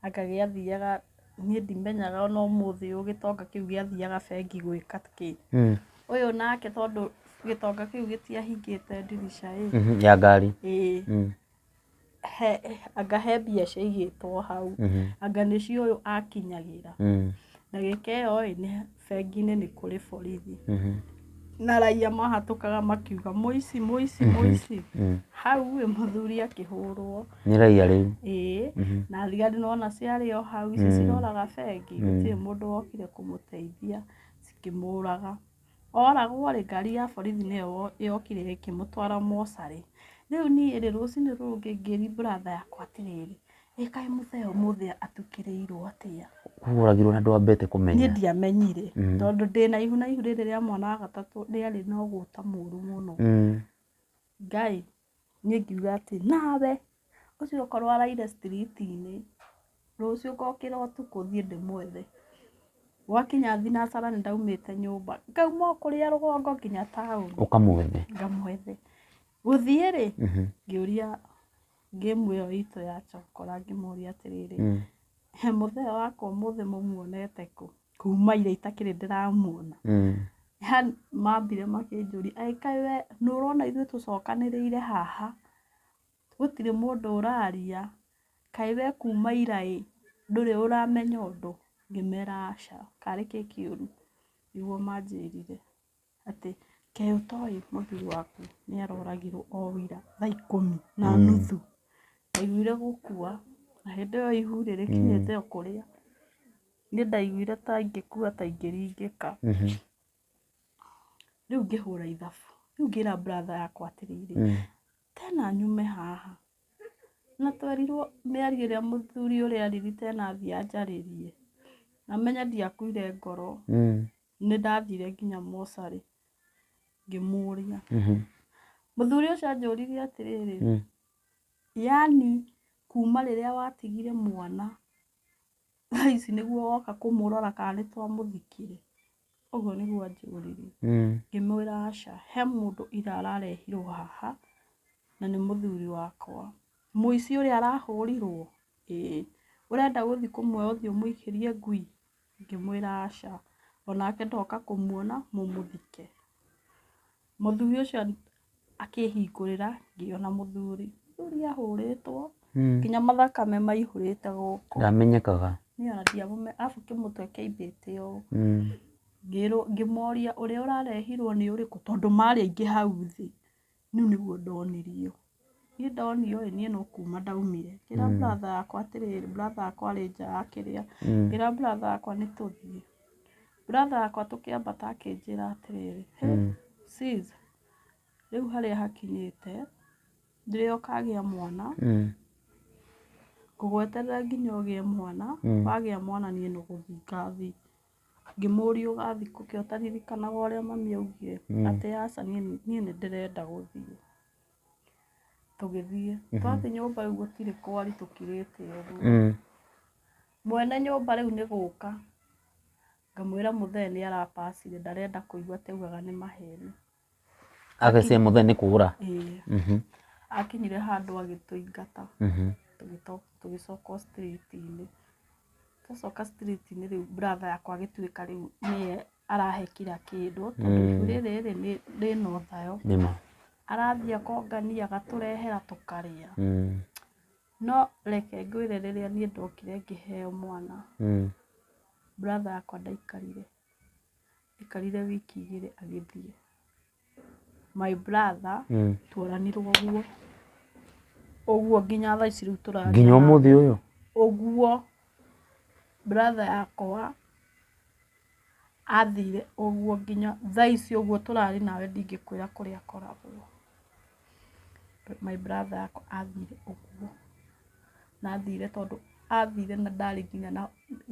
anga gĩathiaga, niĩ ndimenyaga ona ũmũthĩ ũyũ gĩtonga kĩu gĩathiaga bengi gwĩka kĩ. Ũyũ nake tondũ gĩtonga kĩu gĩtiahingĩte ndirica ĩ. Ya ngari. Ĩĩ. he anga he mbia ciaigĩtwo hau Mhm. anga nĩcio ũyũ akinyagĩra Mm. ndagĩka ĩyo ĩ nĩ- bengi-inĩ nĩ kũrĩ borithi Mhm. na raia mahatũkaga makiuga mũici mũici mũici Mm. hau ĩ mũthuri akĩhũrwo nĩ raia rĩu ĩĩ Mhm. na thigari nona ciarĩ o hau ici Mm. ciroraga bengi Mm. gũtirĩ mũndũ wokire kũmũteithia cikĩmũraga Oragwo rĩ, ngari ya borithi nĩyo yokire ĩkĩmũtwara mocarĩ. Rĩu niĩ rĩ, rũcinĩ rũu rũngĩ ngĩri brother yakwa atĩrĩrĩ, ĩ kaĩ mũthee ũmũthĩ atukĩrĩirwo atĩa? Koguo ũragirwo na ndwambĩte kũmenya? Niĩ ndiamenyire, tondũ ndĩ na ihu na ihu rĩrĩ rĩa mwana wa gatatũ rĩarĩ na ũgũta mũru mũno. Ngai! Niĩ ngiuga atĩ nawe ũcio okorwo araire street -inĩ, rũciũ ngokĩra ũtukũ thiĩ ndĩmwethe. Gwakinya thinacara nĩ ndaumĩte nyũmba, ngauma o kũrĩa rũgongo nginya taũni. Ũkamwethe. Ngamwethe. Gũthiĩ rĩ, ngĩũria game ĩyo itũ ya chokora ngĩmũria atĩrĩrĩ, mũthee wakwa ũmũthĩ mũmuonete kũ? kuuma ira itakĩrĩ ndĩramuona yani mambire makĩnjũria ĩ kaĩ we nĩ ũrona ithuĩ tũcokanĩrĩire haha gũtirĩ mũndũ ũraria kaĩ we kuuma ira ĩ ndũrĩ ũramenya ũndũ ngĩmera aca karĩ kĩ kĩũru nĩguo manjĩrire. atĩ kaĩ ũtoĩ mũthuri waku nĩ aroragirwo o ira thaa ikũmi na nuthu, ndaiguire gũkua na hĩndĩ ĩyo ihu rĩ rĩkinyĩte o kũrĩa, niĩ ndaiguire ta ingĩkua ta ingĩringĩka, rĩu ngĩhũra ithabu, rĩu ngĩra brother yakwa atĩrĩrĩ, tena nyume haha na twerirwo nĩ aria ĩrĩa mũthuri ũrĩa arĩrire tena athiĩ anjarĩrie, na menye ndiakuire ngoro, Nĩ ndathire nginya mocarĩ ngĩmũria. Mhm. Mũthuri ũcio anjũririe atĩrĩrĩ, Mm. yaani kuma rĩrĩa watigire mwana thaa ici nĩguo woka kũmũrora kana nĩ twamũthikire? Ũguo nĩguo anjũririe. Mm. Ngĩmwĩra aca, he mũndũ ira ararehirwo haha na nĩ mũthuri wakwa. Mũici ũrĩa arahũrirwo? Ĩĩ. Ũrenda gũthiĩ kũmuoya ũthiĩ ũmũikĩrie ngui? Ngĩmwĩra, Aca. O nake ndoka kũmuona mũmũthike. Mũthuri ũcio akĩhingũrĩra, ngĩona mũthuri. Mũthuri ahũrĩtwo, nginya mathakame maihũrĩte gũkũ. Ndamenyekaga. Niĩ ona ndiamũmenyaga, arabu kĩmũtwe kĩaimbĩte ũũ. Ngĩrwo, ngĩmoria ũrĩa ũrarehirwo nĩ ũrĩkũ, tondũ marĩ aingĩ hau thĩ. Niũ nĩguo ndonirio. Niĩ ndonio ĩĩ niĩ no kuuma ndaumire. Ngĩra brother yakwa atĩrĩrĩ, brother yakwa arĩ nja akĩrĩa. Ngĩra brother yakwa nĩ tũthiĩ. Brother yakwa tũkĩambata akĩnjĩra atĩrĩrĩ, hĩ, sis, rĩu harĩa hakinyĩte, ndĩrĩ o kagĩa mwana, ngũgweterera nginya ũgĩe mwana, wagĩa mwana niĩ nĩ gũthiĩ ngathiĩ. Ngĩmũũria ũgathiĩ kũ kĩ ũtaririkanaga ũrĩa mami augire atĩ aca niĩ nĩ ndĩrenda gũthiĩ. Tũgĩthiĩ twathiĩ nyũmba rĩu gũtirĩ kwari tũkirĩte ũguo. Mwene nyũmba rĩu nĩ gũka ngamwĩra mũthee nĩ ara pass ndarenda kũigua taugaga nĩ maheni. Agĩcee mũthee nĩ kũũra. Ĩĩ. Akinyire handũ agĩtũingata tũgĩcoka street -inĩ. Twacoka street -inĩ rĩu brother yakwa agĩtuĩka rĩu nĩye arahe kira kĩndũ tondũ ibu rĩrĩ rĩna ũthayo. Arathiĩ akongania agatũrehera tũkarĩa. No reke ngwĩre rĩrĩa niĩ ndokire ngĩheo mwana, brother yakwa ndaikarire. Aikarire wiki igĩrĩ agĩthiĩ. My brother Mm. twaranirwo ũguo. Ũguo nginya thaa ici rĩu tũraria. nginya ũmũthĩ ũyũ Ũguo brother yakwa athire ũguo nginya thaa ici ũguo tũrarĩ nawe ndingĩkwĩra kũrĩa akoragwo. my brother akwa athire ũguo na athire tondũ athire na ndarĩ nginya na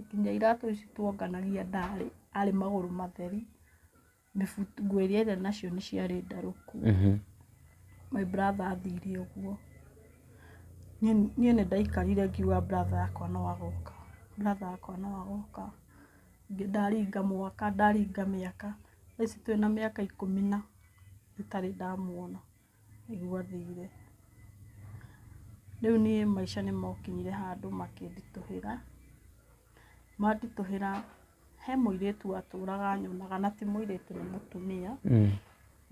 nginya iratũ ici tuonganagia ndarĩ arĩ magũrũ matheri mĩbuto nguo iria arĩ nacio nĩ ciarĩ ndarũku Mhm. my brother athire ũguo niĩ niĩ nĩ ndaikarire ngiuga brother yakwa no agoka brother yakwa no agoka Ngĩ- ndaringa mwaka ndaringa mĩaka thaa ici twĩna mĩaka ikũmi na itarĩ ndamuona nĩguo athire. Rĩu niĩ maica nĩ mokinyire handũ makĩnditũhĩra, manditũhĩra he mũirĩtu watũraga anyonaga na ti mũirĩtu nĩ mũtumia,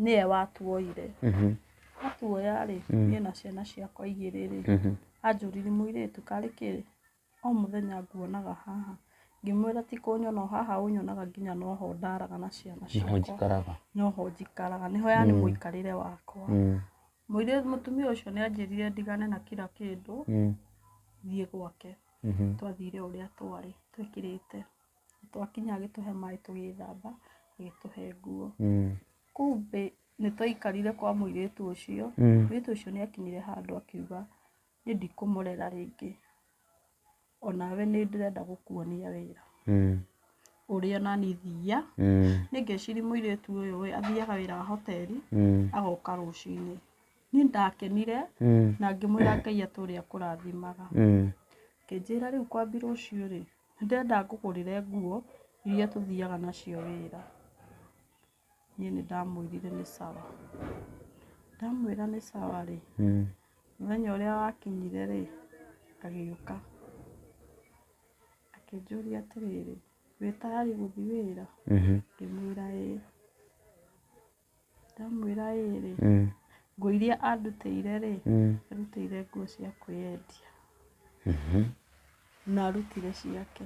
nĩwe watuoire. Atuoya rĩ, niĩ na ciana ciakwa igĩrĩ rĩ, anjũrire mũirĩtu karĩ kĩ? O mũthenya nguonaga haha. Ngĩmwĩra ti kũnyona o haha ũnyonaga nginya no ho ndaraga na ciana ciakwa. Nĩho njikaraga. No ho njikaraga. Nĩho yani mũikarĩre wakwa. Mũirĩtu, mũtumia ũcio nĩ anjĩrire ndigane na kira kĩndũ, thiĩ gwake. Twathire o ũrĩa twarĩ twĩkĩrĩte. Twakinya agĩtũhe maĩ tũgĩthamba, agĩtũhe nguo. Kumbĩ nĩ twaikarire kwa mũirĩtu ũcio, mũirĩtu ũcio nĩ akinyire handũ akiuga nĩ ndikũmũrera rĩngĩ onawe nĩ ndĩrenda gũkuonia wĩra Mm. ũrĩa nani thiia Mm. nĩ ngeciri mũirĩtu ũyũ ĩ, athiaga wĩra wa hoteli Mm. agoka rũcinĩ niĩ ndakenire Mm. na ngĩmwĩra ngai atũre akũrathimaga Mm. kĩnjĩra rĩu kwambi rũciũ rĩ ndĩrenda ngũgũrĩre nguo iria tũthiaga nacio wĩra Niĩ nĩ ndamwĩrire nĩ sawa. Ndamwĩra nĩ sawa rĩ, mũthenya ũrĩa wakinyire rĩ, agĩũka akĩnjũria atĩrĩrĩ, wĩ tayarĩ gũthiĩ wĩra? Ngĩmwĩra ĩĩ. Ndamwĩra ĩĩ rĩ, nguo iria andutĩire rĩ, andutĩire nguo cia kwĩyendia na arutire ciake.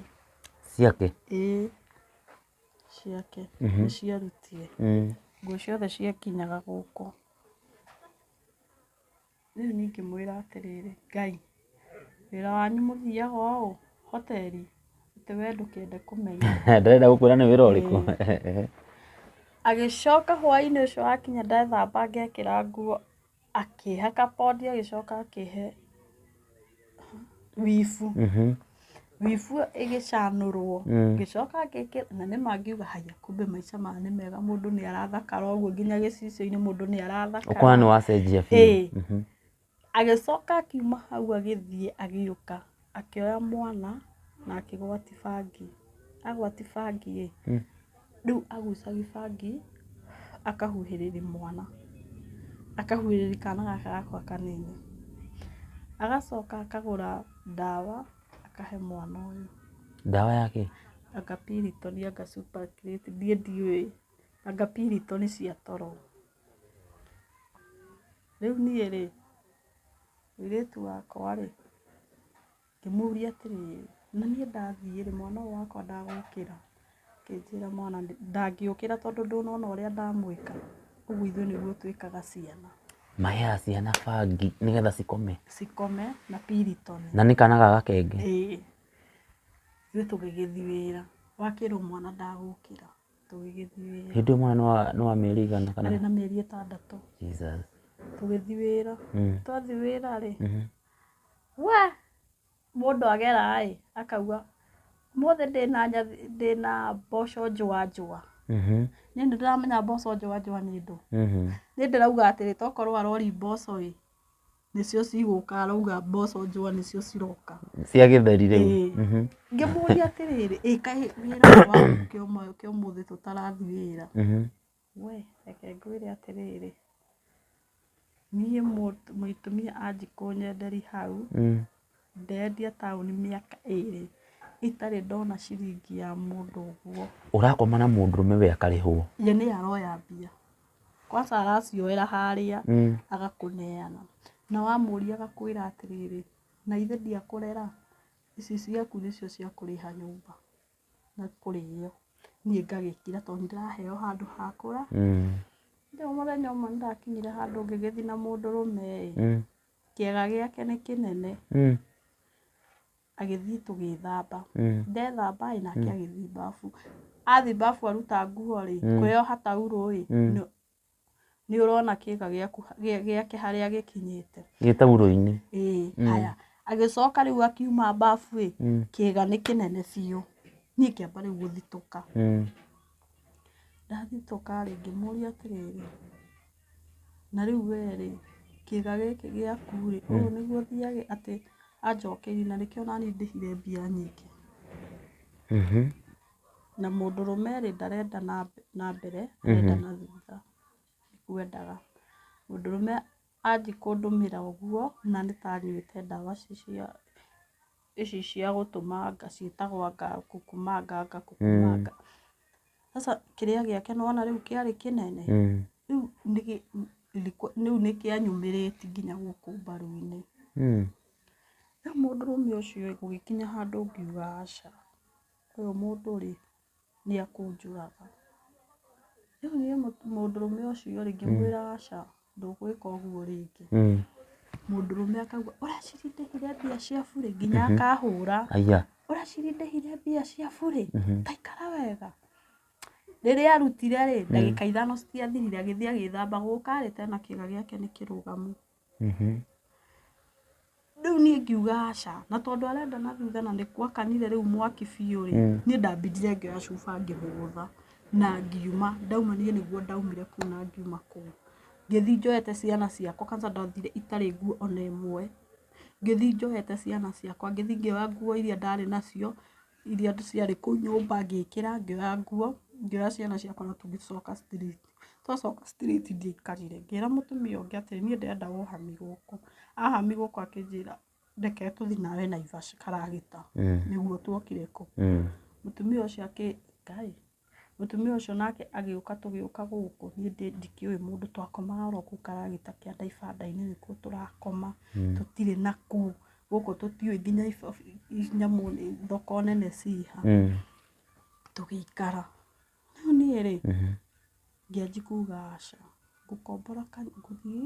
Ciake? Ĩĩ. ciake nĩ ciarutire nguo ciothe ciakinyaga gũkũ. Rĩu niĩ ngĩmwĩra atĩrĩrĩ, Ngai, wĩra wanyu mũthiaga ũũ hoteri? Atĩ we ndũkĩenda kũmenya. Ndarenda gũkwĩra nĩ wĩra ũrĩkũ. Agĩcoka hwainĩ ũcio wakinya ndethamba ngekĩra nguo. akĩhaka pondi agĩcoka akĩhe wibu Mhm. wibu ĩyo ĩgĩcanũrwo Mm. ngĩcoka ngĩkĩra na nĩ mangiuga haya kumbe maica maya nĩ mega mũndũ nĩ arathakara ũguo nginya gĩcicio-inĩ mũndũ nĩ ũkona nĩ arathakara wacenjia Ĩĩ. biũ Mhm. agĩcoka akiuma hau agĩthiĩ agĩũka Akĩoya mwana na akĩgwati bangi. Agwati bangi ĩ, rĩu agucagi bangi akahuhĩrĩri mwana. Akahuhĩrĩri kana gaka gakwa kanini. Agacoka akagũra ndawa akahe mwana ũyũ. Ndawa ya kĩ? Anga Piriton anga Super Acreate niĩ ndiũĩ. Anga Piriton cia toro. Rĩu niĩ rĩ, Mũirĩtu wakwa rĩ, ngĩmũria atĩrĩrĩ, na niĩ ndathiĩ rĩ, mwana ũyũ wakwa ndagokĩra? Akĩnjĩra mwana ndangĩũkĩra tondũ ndũnona ũrĩa ndamwĩka, ũguo ithuĩ nĩguo twĩkaga ciana. Maheaga ciana bangi nĩgetha cikome? Cikome na Piriton. Na nĩ kana ga gakenge? Ĩĩ. Ithuĩ tũgĩgĩthiĩ wĩra, wakĩrwo mwana ndagũkĩra. tũgĩgĩthiĩ wĩra. Hĩndĩ ĩyo mwana nĩ wa- nĩ wa mĩeri ĩigana kana? Arĩ na mĩeri ĩtandatũ. Jesus. Tũgĩthiĩ wĩra. Mm. Twathiĩ wĩra-rĩ, Mhm. we, mũndũ agera-ĩ, akauga, ũmũthĩ ndĩna nyathi- ndĩna mboco njũa njũa. Mhm. Niĩ nĩndĩramenya mboco njũa njũa nĩ ndũ. Mhm. Niĩ ndĩrauga atĩrĩ tokorwo arori mboco-ĩ, nĩcio cigũka arauga mboco njũa nĩcio ciroka cia gĩtheri rĩu Ĩĩ. Mhm. ngĩmũria atĩrĩrĩ ĩ kaĩ wĩra ũyũ wa gũkĩa ũmwe ũkĩa ũmũthĩ tũtarathiĩ wĩra Mhm. we reke ngwĩre atĩrĩrĩ niĩ mũtu- mũtumia anjikũnyenderi hau Mm. Ndendia taũni mĩaka ĩrĩ itarĩ ndona ciringi ya mũndũ ũguo. Ũrakoma na mũndũrũme we akarĩhwo. Ye nĩye aroya mbia. Kwanza aracioera harĩa agakũneana. Na wamũria agakwĩra atĩrĩrĩ, na ithe ndiakũrera? Ici ciaku nĩcio cia kũrĩha nyũmba na kũrĩo. Niĩ ngagĩkira tondũ nĩ ndĩraheo handũ ha kũra. Rĩu mũthenya ũmwe nĩ ndakinyire handũ ngĩgĩthiĩ na mũndũrũme ĩ. Kĩaga gĩake nĩ kĩnene. Mm. Agĩthiĩ tũgĩthamba. Mm. Ndethamba ĩ nake mm. agĩthiĩ babu. Athiĩ babu aruta nguo rĩ, mm. kwĩyoha taurũ ĩ, mm. nĩ ũrona kĩga gĩake harĩa gĩkinyĩte. Gĩ taurũ-inĩ. Ĩĩ, mm. haya. Agĩcoka rĩu akiuma babu ĩ, mm. kĩga nĩ kĩnene biũ. Niĩ ngĩamba rĩu gũthitũka. Mm. Ndathitũka rĩ, ngĩmũria atĩrĩrĩ, Na rĩu wee-rĩ, kĩĩga gĩkĩ gĩaku-rĩ, ũũ nĩguo ũthiage atĩ anjokeire na nĩkĩo nani ndĩhire mbia nyingĩ? Na mũndũrũme-rĩ, ndarenda na na mbere, arenda na thutha. Ndikwendaga. Mũndũrũme anjia kũndũmĩra ũguo, na nĩta anyuĩte ndawa ici cia. ici cia gũtũmanga ciĩtagwanga kukumanga anga kukumanga sasa kĩrĩa gĩake nĩwona rĩu kĩarĩ kĩnene Mm. rĩu nĩgĩ- nĩkũ- rĩu nĩkĩanyumĩrĩti nginya gũkũ mbaru-inĩ Mm. rĩu mũndũrũme ũcio ĩ, gũgĩkinya handũ ngiuga aca ũyũ mũndũ rĩ nĩ ekũnjũraga. Rĩu niĩ mũndũrũme ũcio rĩ ngĩmwĩra aca ndũgwĩka ũguo rĩngĩ. Mũndũrũme akauga ũracindĩhire mbia cia burĩ nginya akahũra. Ũracindĩhire mbia cia burĩ ta ikara wega. Rĩrĩa arutire rĩ ndagĩka ithano citiathirire agĩthiĩ agĩthamba gũka rĩ tena kĩga gĩake nĩ kĩrũgamu. rĩu niĩ ngiuga aca na tondũ arenda na thutha na nĩ gwakanire rĩu mwaki biũ rĩ niĩ ndambindire ngĩoya cuba ngĩhũgũtha na ngiuma ndauma niĩ nĩguo ndaumire kũu na ngiuma kũu ngĩthiĩ njoete ciana ciakwa kwanza ndathire itarĩ nguo ona ĩmwe ngĩthiĩ njoete ciana ciakwa ngĩthiĩ ngĩoya nguo iria ndarĩ nacio iria ciarĩ kũu nyũmba ngĩkĩra ngĩoya nguo ngĩoya ciana ciakwa na tũgĩcoka street. Twacoka straight ndiaikarire ngĩra mũtumia ũngĩ atĩrĩ niĩ ndĩrenda ũhami gũkũ. Ahami gũkũ akĩnjĩra reke tũthiĩ nawe Naivasha karagita nĩguo tuokire kũ. Mũtumia ũcio akĩ, Ngai, mũtumia ũcio nake agĩũka tũgĩũka gũkũ niĩ ndikĩũĩ mũndũ twakomaga oro kũu karagita kĩa ibanda-inĩ nĩkuo tũrakoma tũtirĩ na kũu. Gũkũ tũtiũĩ nginya nyamũ, thoko nene ciĩ ha. Tũgĩikara. Rĩu niĩ rĩ ngĩanji kuga aca, ngũkombora ngũthiĩ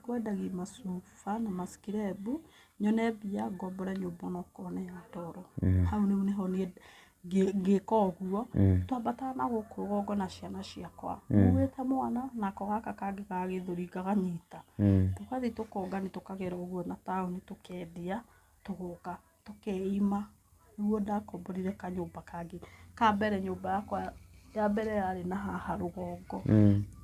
kwendagia macuba na macikirebu nyone mbia ngombore nyũmba ona okorwo nĩ ya toro. Hau rĩu nĩho niĩ ngĩka ũguo twambataga na gũkũ rũgongo na ciana ciakwa nguĩte mwana nako gaka kangĩ ga gĩthũri ngakanyita. Tũgathiĩ tũkongania tũkagera ũguo na taũni tũkendia tũgoka tũkeima, nĩguo ndakomborire kanyũmba kangĩ. Ka mbere nyũmba yakwa ya mbere yarĩ na haha rũgongo,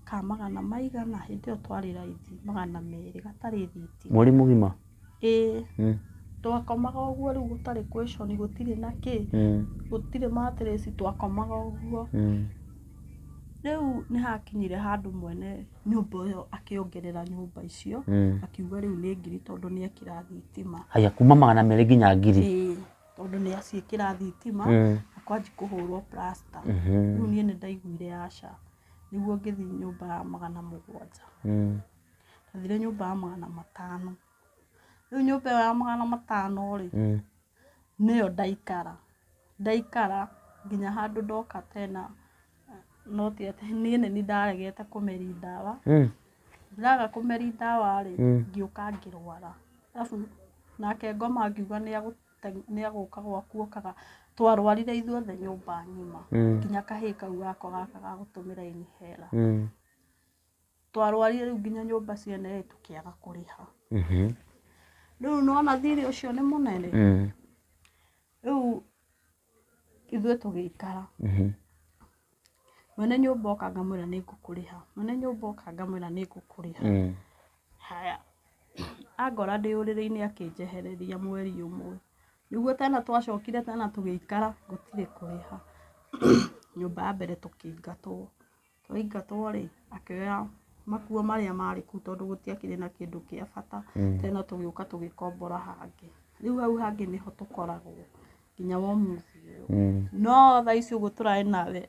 ka magana maigana, hĩndĩ ĩyo twarĩ raithi, magana merĩ gatarĩ thitima. Mweri mũgima? Ĩĩ. Twakomaga ũguo rĩu gũtarĩ question, gũtirĩ na kĩ, gũtirĩ mattress, twakomaga ũguo. Rĩu nĩ hakinyire handũ mwene... nyũmba ĩyo akĩongerera nyũmba icio Mm. akiuga rĩu nĩ ngiri tondũ nĩ ekĩra thitima haya kuma magana merĩ nginya ngiri Ĩĩ, tondũ nĩ aciĩkĩra thitima Mm. na kwanji kũhũrwo plasta Mhm. rĩu niĩ nĩ ndaiguire aca nĩguo ngĩthiĩ nyũmba ya magana mũgwanja Mm. ndathire nyũmba ya magana matano rĩu nyũmba ĩyo ya magana matano rĩ Mm. nĩyo ndaikara, ndaikara nginya handũ ndoka tena no ti atĩ niĩ nĩ niĩ ndaregete kũmeri ndawa, ndĩraga kũmeri ndawa rĩ ngĩũka ngĩrwara arabu nake ngoma akiuga nĩ agũteng'eria nĩ agũka gwaku okaga, twarwarire ithuothe nyũmba ng'ima nginya kahĩ kau gakwa gaka ga gũtũmĩra inhĩra. Twarwarire rĩu nginya nyũmba cia NA tũkĩaga kũrĩha. Rĩu nĩwona thirĩ ũcio nĩ mũnene, rĩu ithuĩ tũgĩikara. Mwene nyũmba oka ngamwĩra nĩ ngũkũrĩha, mwene nyũmba oka ngamwĩra nĩ ngũkũrĩha. Haya, angora ndĩ ũrĩrĩ-inĩ akĩnjehereria mweri ũmwe. Nĩguo tena twacokire tena tũgĩikara gũtirĩ kũrĩha. Nyũmba ya mbere tũkĩingatwo. Twaingatwo rĩ, akĩoya makuo marĩa marĩ kũu tondũ gũtiakĩrĩ na kĩndũ kĩa bata mm. tena tũgĩũka tũgĩkombora hangĩ rĩu hau hangĩ nĩho tũkoragwo nginya womuthi ũyũ mm. no tha ici ũguo tũraĩ nawe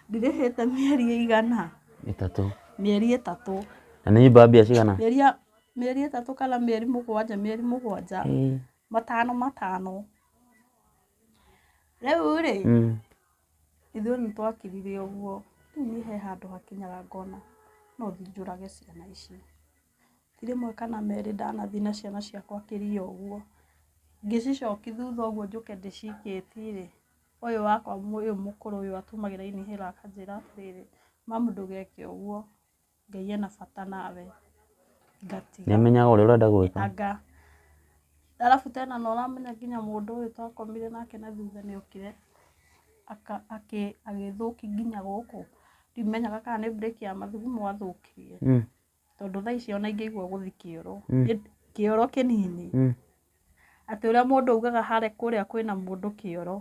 ndirĩhĩte mĩeri ĩigana ĩtatũ mĩeri ĩtatũ na nĩ nyũmba mbia cigana mĩeri ĩtatũ kana mĩeri mũgwanja mĩeri mũgwanja matano matano rĩu rĩ mm. Ithuĩ nĩ twakirire ũguo, rĩu niĩ he handũ hakinyaga ngona no thiĩ njũrage ciana ici. Ti rĩmwe kana merĩ ndanathiĩ na ciana ciakwa kĩria ũguo, ngĩcicoki thutha ũguo njũke ndĩcikĩtie rĩ, ũyũ wakwa ũyũ mũkũrũ ũyũ atũmagĩra inhaler akanjĩra atĩrĩrĩ, mamu ndũgeke ũguo. Ngai ena bata nawe. Ngatiga. Nĩ amenyaga ũrĩa ũrenda gwĩka. Anga. Arabu tena nĩ ũramenya nginya mũndũ ũyũ twakomire nake na thutha nĩ okire agĩthũki nginya gũkũ. Ndimenyaga kana nĩ break ya mathugumo athũkirie. Tondũ thaa icio ona ingĩigua gũthiĩ kĩoro, kĩoro kĩnini, atĩ ũrĩa mũndũ augaga harĩa kũrĩa kwĩna mũndũ kĩoro,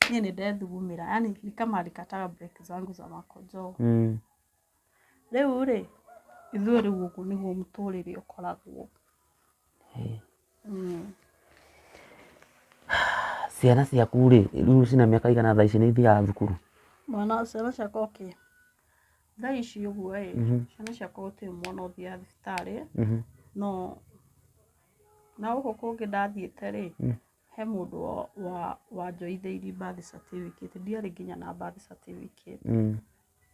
niĩ nĩ ndethugumĩra. Yaani ni kama alikataga break zangu za makonjoo. Rĩu-rĩ, ithuĩ rĩu ũguo nĩguo mũtũrĩre ũkoragwo. Ciana ciaku-rĩ, rĩu ciĩna mĩaka ĩigana thaa ici, nĩithiaga thukuru? Mwana, ciana ciakwa okay, thaa ici ũguo-ĩ, ciana ciakwa gũtirĩ mwana ũthiaga thibitarĩ, no na gũkũ kũngĩ ndathiĩte-rĩ, he mũndũ wa, wanjoithĩirie birth certificate, ndiarĩ nginya na birth certificate.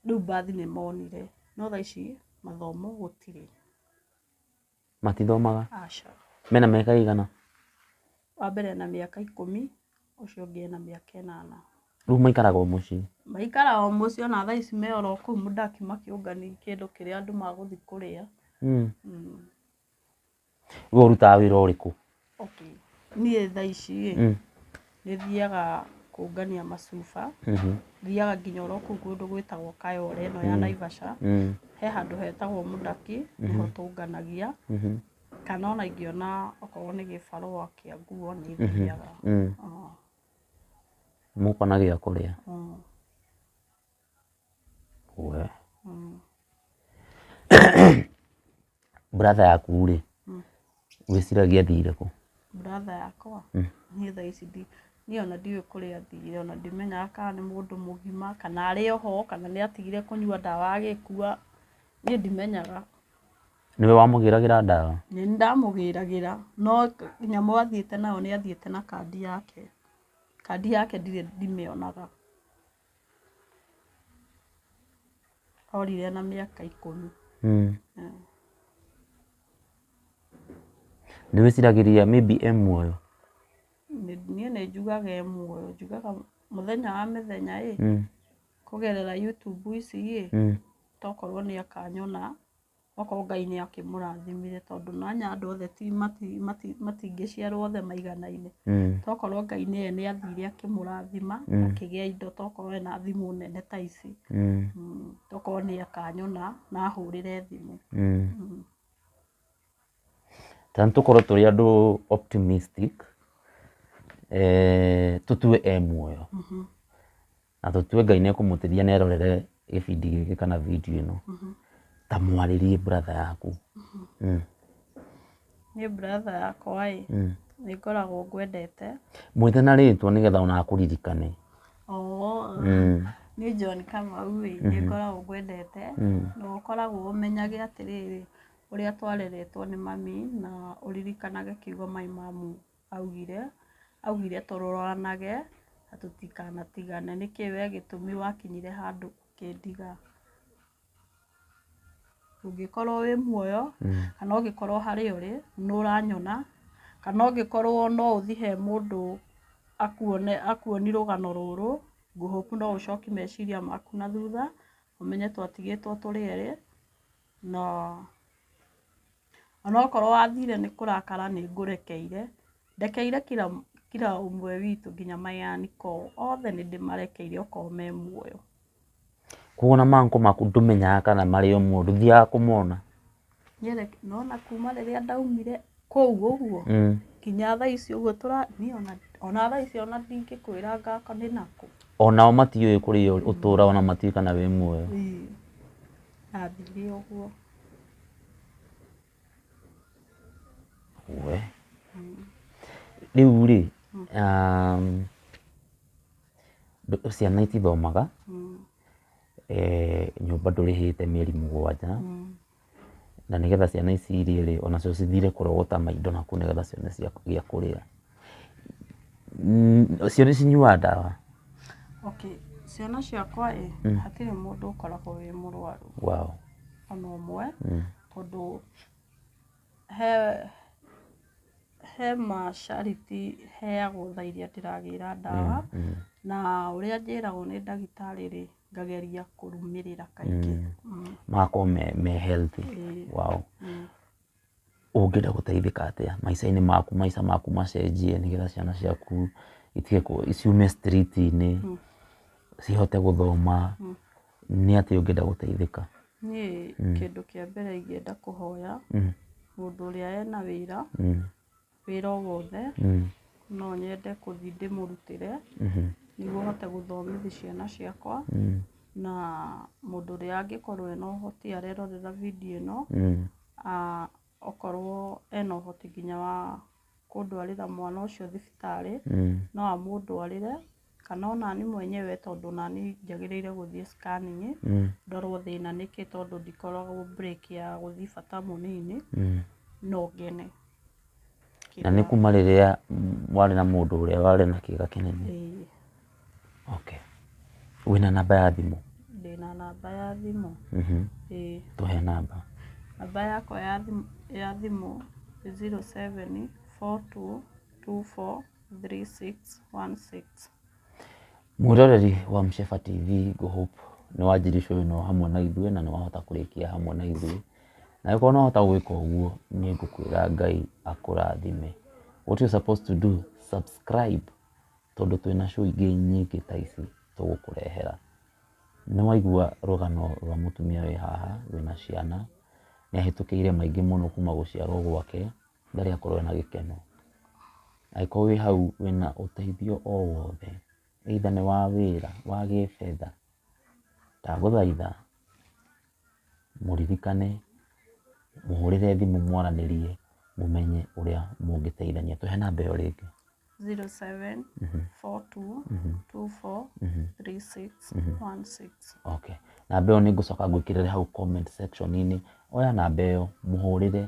Rĩu bathi nĩ monire no thaa ici mathomo gũtirĩ. Matithomaga? Aca. Mena mĩaka ĩigana? Wa mbere ena mĩaka ikũmi, ũcio ũngĩ ena mĩaka ĩnana. Rĩu maikaraga o mũciĩ? Maikaraga o mũciĩ ona thaa ici me oro kũu mũndũ ndakiuma kĩũngano kĩndũ kĩrĩa andũ magũthiĩ kũrĩa. Mm. Mm. We ũrutaga wĩra ũrĩkũ? Okay. Niĩ thaa ici rĩ, Mm. nĩ thiaga kũngania macuba, Mhm. thiaga nginya oro kũu kũndũ gwĩtagwo Kayole ĩno ya Naivasha, Mm. he handũ hetagwo Mũdaki, nĩho tũnganagia, Mhm. kana ona ingĩona okorwo nĩ gĩbarũa kĩa nguo nĩ thiaga. Mm. Ah, Mũkona gĩa kũrĩa. ah. We. brother yaku rĩ wĩciragia athiire kũ brother yakwa niĩ thaa ici ndi niĩ ona ndiũĩ kũrĩa athire ona ndimenyaga kana nĩ mũndũ mũgima kana arĩ oho kana nĩ atigire kũnyua ndawa agĩkua niĩ ndimenyaga nĩwe wamũgĩragĩra ndawa nĩ niĩ ndamũgĩragĩra no nyamũ athiĩte nayo nĩ athiĩte na kandi yake kandi yake ndirĩ ndimĩonaga Orire ena mĩaka ikũmi. Mm. Yeah. Nĩ wĩciragĩria maybe e muoyo? Nĩ- Niĩ nĩ njugaga e muoyo, njugaga mũthenya wa mĩthenya ĩ, Mm. kũgerera YouTube ici ĩ, Mm. tokorwo nĩ akanyona Okorwo Ngai nĩ akĩmũrathimire tondũ nonĩ andũ othe ti mati mati matingĩciarwo othe maiganaine. Tokorwo Ngai nĩye nĩ athire akĩmũrathima akĩgĩa indo tokorwo ena thimũ nene ta ici, tokorwo nĩ akanyona na ahũrĩre thimũ. Ta nĩ tũkorwo tũrĩ andũ optimistic, tũtue e muoyo. na tũtue Ngai nĩ ekũmũteithia na erorere gĩbindi gĩkĩ kana video ĩno, ta mwarĩrie brother yaku. Mm. Niĩ brother yakwa ĩ, Mm. nĩ ngoragwo ngwendete. Mwĩte na rĩtwa nĩgetha ona akũririkane. Oo, Mm. niĩ John Kamau ĩ, nĩ ngoragwo ngwendete. Mm. Na ũkoragwo ũmenyage atĩrĩrĩ, ũrĩa twareretwo nĩ mami na ũririkanage kiugo Mai Mamu Augire, augire tũroranage na tũtikanatigane. Nĩkĩ we gĩtũmi wakinyire handũ ũkĩndiga? Ũngĩkorwo wĩ muoyo kana ũngĩkorwo harĩa ũrĩ nĩ ũranyona kana ũngĩkorwo no ũthiĩ he mũndũ akuone, akuoni rũgano rũrũ, ngũhũpu no ũcoki meciria maku na thutha ũmenye twatigĩtwo tũrĩ erĩ na... Onokorwo wathire nĩ kũrakara nĩ ngũrekeire, ndekeire kira kira ũmwe witũ nginya mayanĩ koo, othe nĩ ndĩmarekeire okorwo me muoyo. Kũguo ona mankũ maku ndũmenyaga kana marĩ o muoyo, ndũthiaga kũmona? Nĩereke nĩwona kuuma rĩrĩa ndaumire kũu ũguo, nginya thaa ici ũguo tũra niĩ ona ona thaa ici ona ndingĩkwĩra ngakũ nĩ nakũ. Onao matiũĩ kũrĩa ũrĩ ũtũraga ona matiũĩ kana wĩ muoyo? Ĩĩ ndathire ũguo. We. Rĩu rĩ, um, ndũ- ciana itithomaga eh, nyũmba ndũrĩhĩte mĩeri mũgwanja na nĩgetha ciana ici irĩe rĩ onacio cithire kũrogota maindo nakũu nĩgetha cione cia- gĩa kũrĩa Mm, cio nĩ cinyuaga ndawa okay ciana ciakwa ĩ hatirĩ mũndũ ũkoragwo wĩ mũrwaru wow. ona ũmwe mm. tondũ he he macariti heagwo tha iria ndĩragĩra ndawa mm. na ũrĩa njĩragwo nĩ ndagĩtarĩ rĩ ngageria kũrũmĩrĩra kaingĩ mm. mm. magakorwo me, me healthy wow. mm. Ũngĩenda gũteithĩka atĩa maica-inĩ maku maica maku macenjie nĩgetha ciana ciaku itige kũ ciume street inĩ cihote gũthoma nĩ atĩa ũngĩenda gũteithĩka? Niĩ kĩndũ kĩa mbere ingĩenda kũhoya mũndũ ũrĩa ena wĩra. wĩra o wothe no nyende gũthiĩ ndĩmũrutĩre nĩguo hote gũthomithia ciana ciakwa na mũndũ ũrĩa angĩkorwo ena ũhoti arerorera video ĩno okorwo ena ũhoti nginya wa kũndwarĩra mwana ũcio thibitarĩ no amũndwarĩre kana onani mwenyewe tondũ onani njagĩrĩire gũthiĩ scanning ndorwo thĩna nĩkĩ tondũ ndikoragwo break ya gũthiĩ bata mũnini no ngene. Na nĩ kuma rĩrĩa warĩ na mũndũ ũrĩa warĩ na kĩga kĩnene? Ĩĩ. Okay. Wĩna namba ya thimũ? Ndĩna namba ya thimũ. Ĩĩ. Tũhe namba. Namba yakwa ya thimũ, ya thimũ nĩ zero seven four two two four. 3616. Mwĩroreri wa Msheba TV ngũhope nĩ wanjiricwo wĩra ũyũ hamwe na ithuĩ na nĩ wahota kũrĩkia hamwe na ithuĩ. Na angĩkorwo nĩ wahota gwĩka ũguo nĩ ngũkwĩra Ngai akũrathime. What you supposed to do, subscribe tondũ twĩna show ingĩ nyingĩ ta ici tũgũkũrehera. Nĩ waigua rũgano rwa mũtumia wĩ haha wĩna ciana, nĩ ahĩtũkĩire maingĩ mũno kuma gũciarwo gwake. ndarĩ akorwo ena gĩkeno. Angĩkorwo wĩ hau wĩna ũteithio o wothe either nĩ wa wĩra, wa gĩbetha, ndagũthaitha mũririkane, mũhũrĩre thimũ mwaranĩrie mũmenye ũrĩa mũngĩteithania. Tũhe namba ĩyo rĩngĩ. Zero seven four two two four three six one six. Okay. Namba ĩyo nĩ ngũcoka ngwĩkĩrĩre hau comment section inĩ. Oya namba ĩyo mũhũrĩre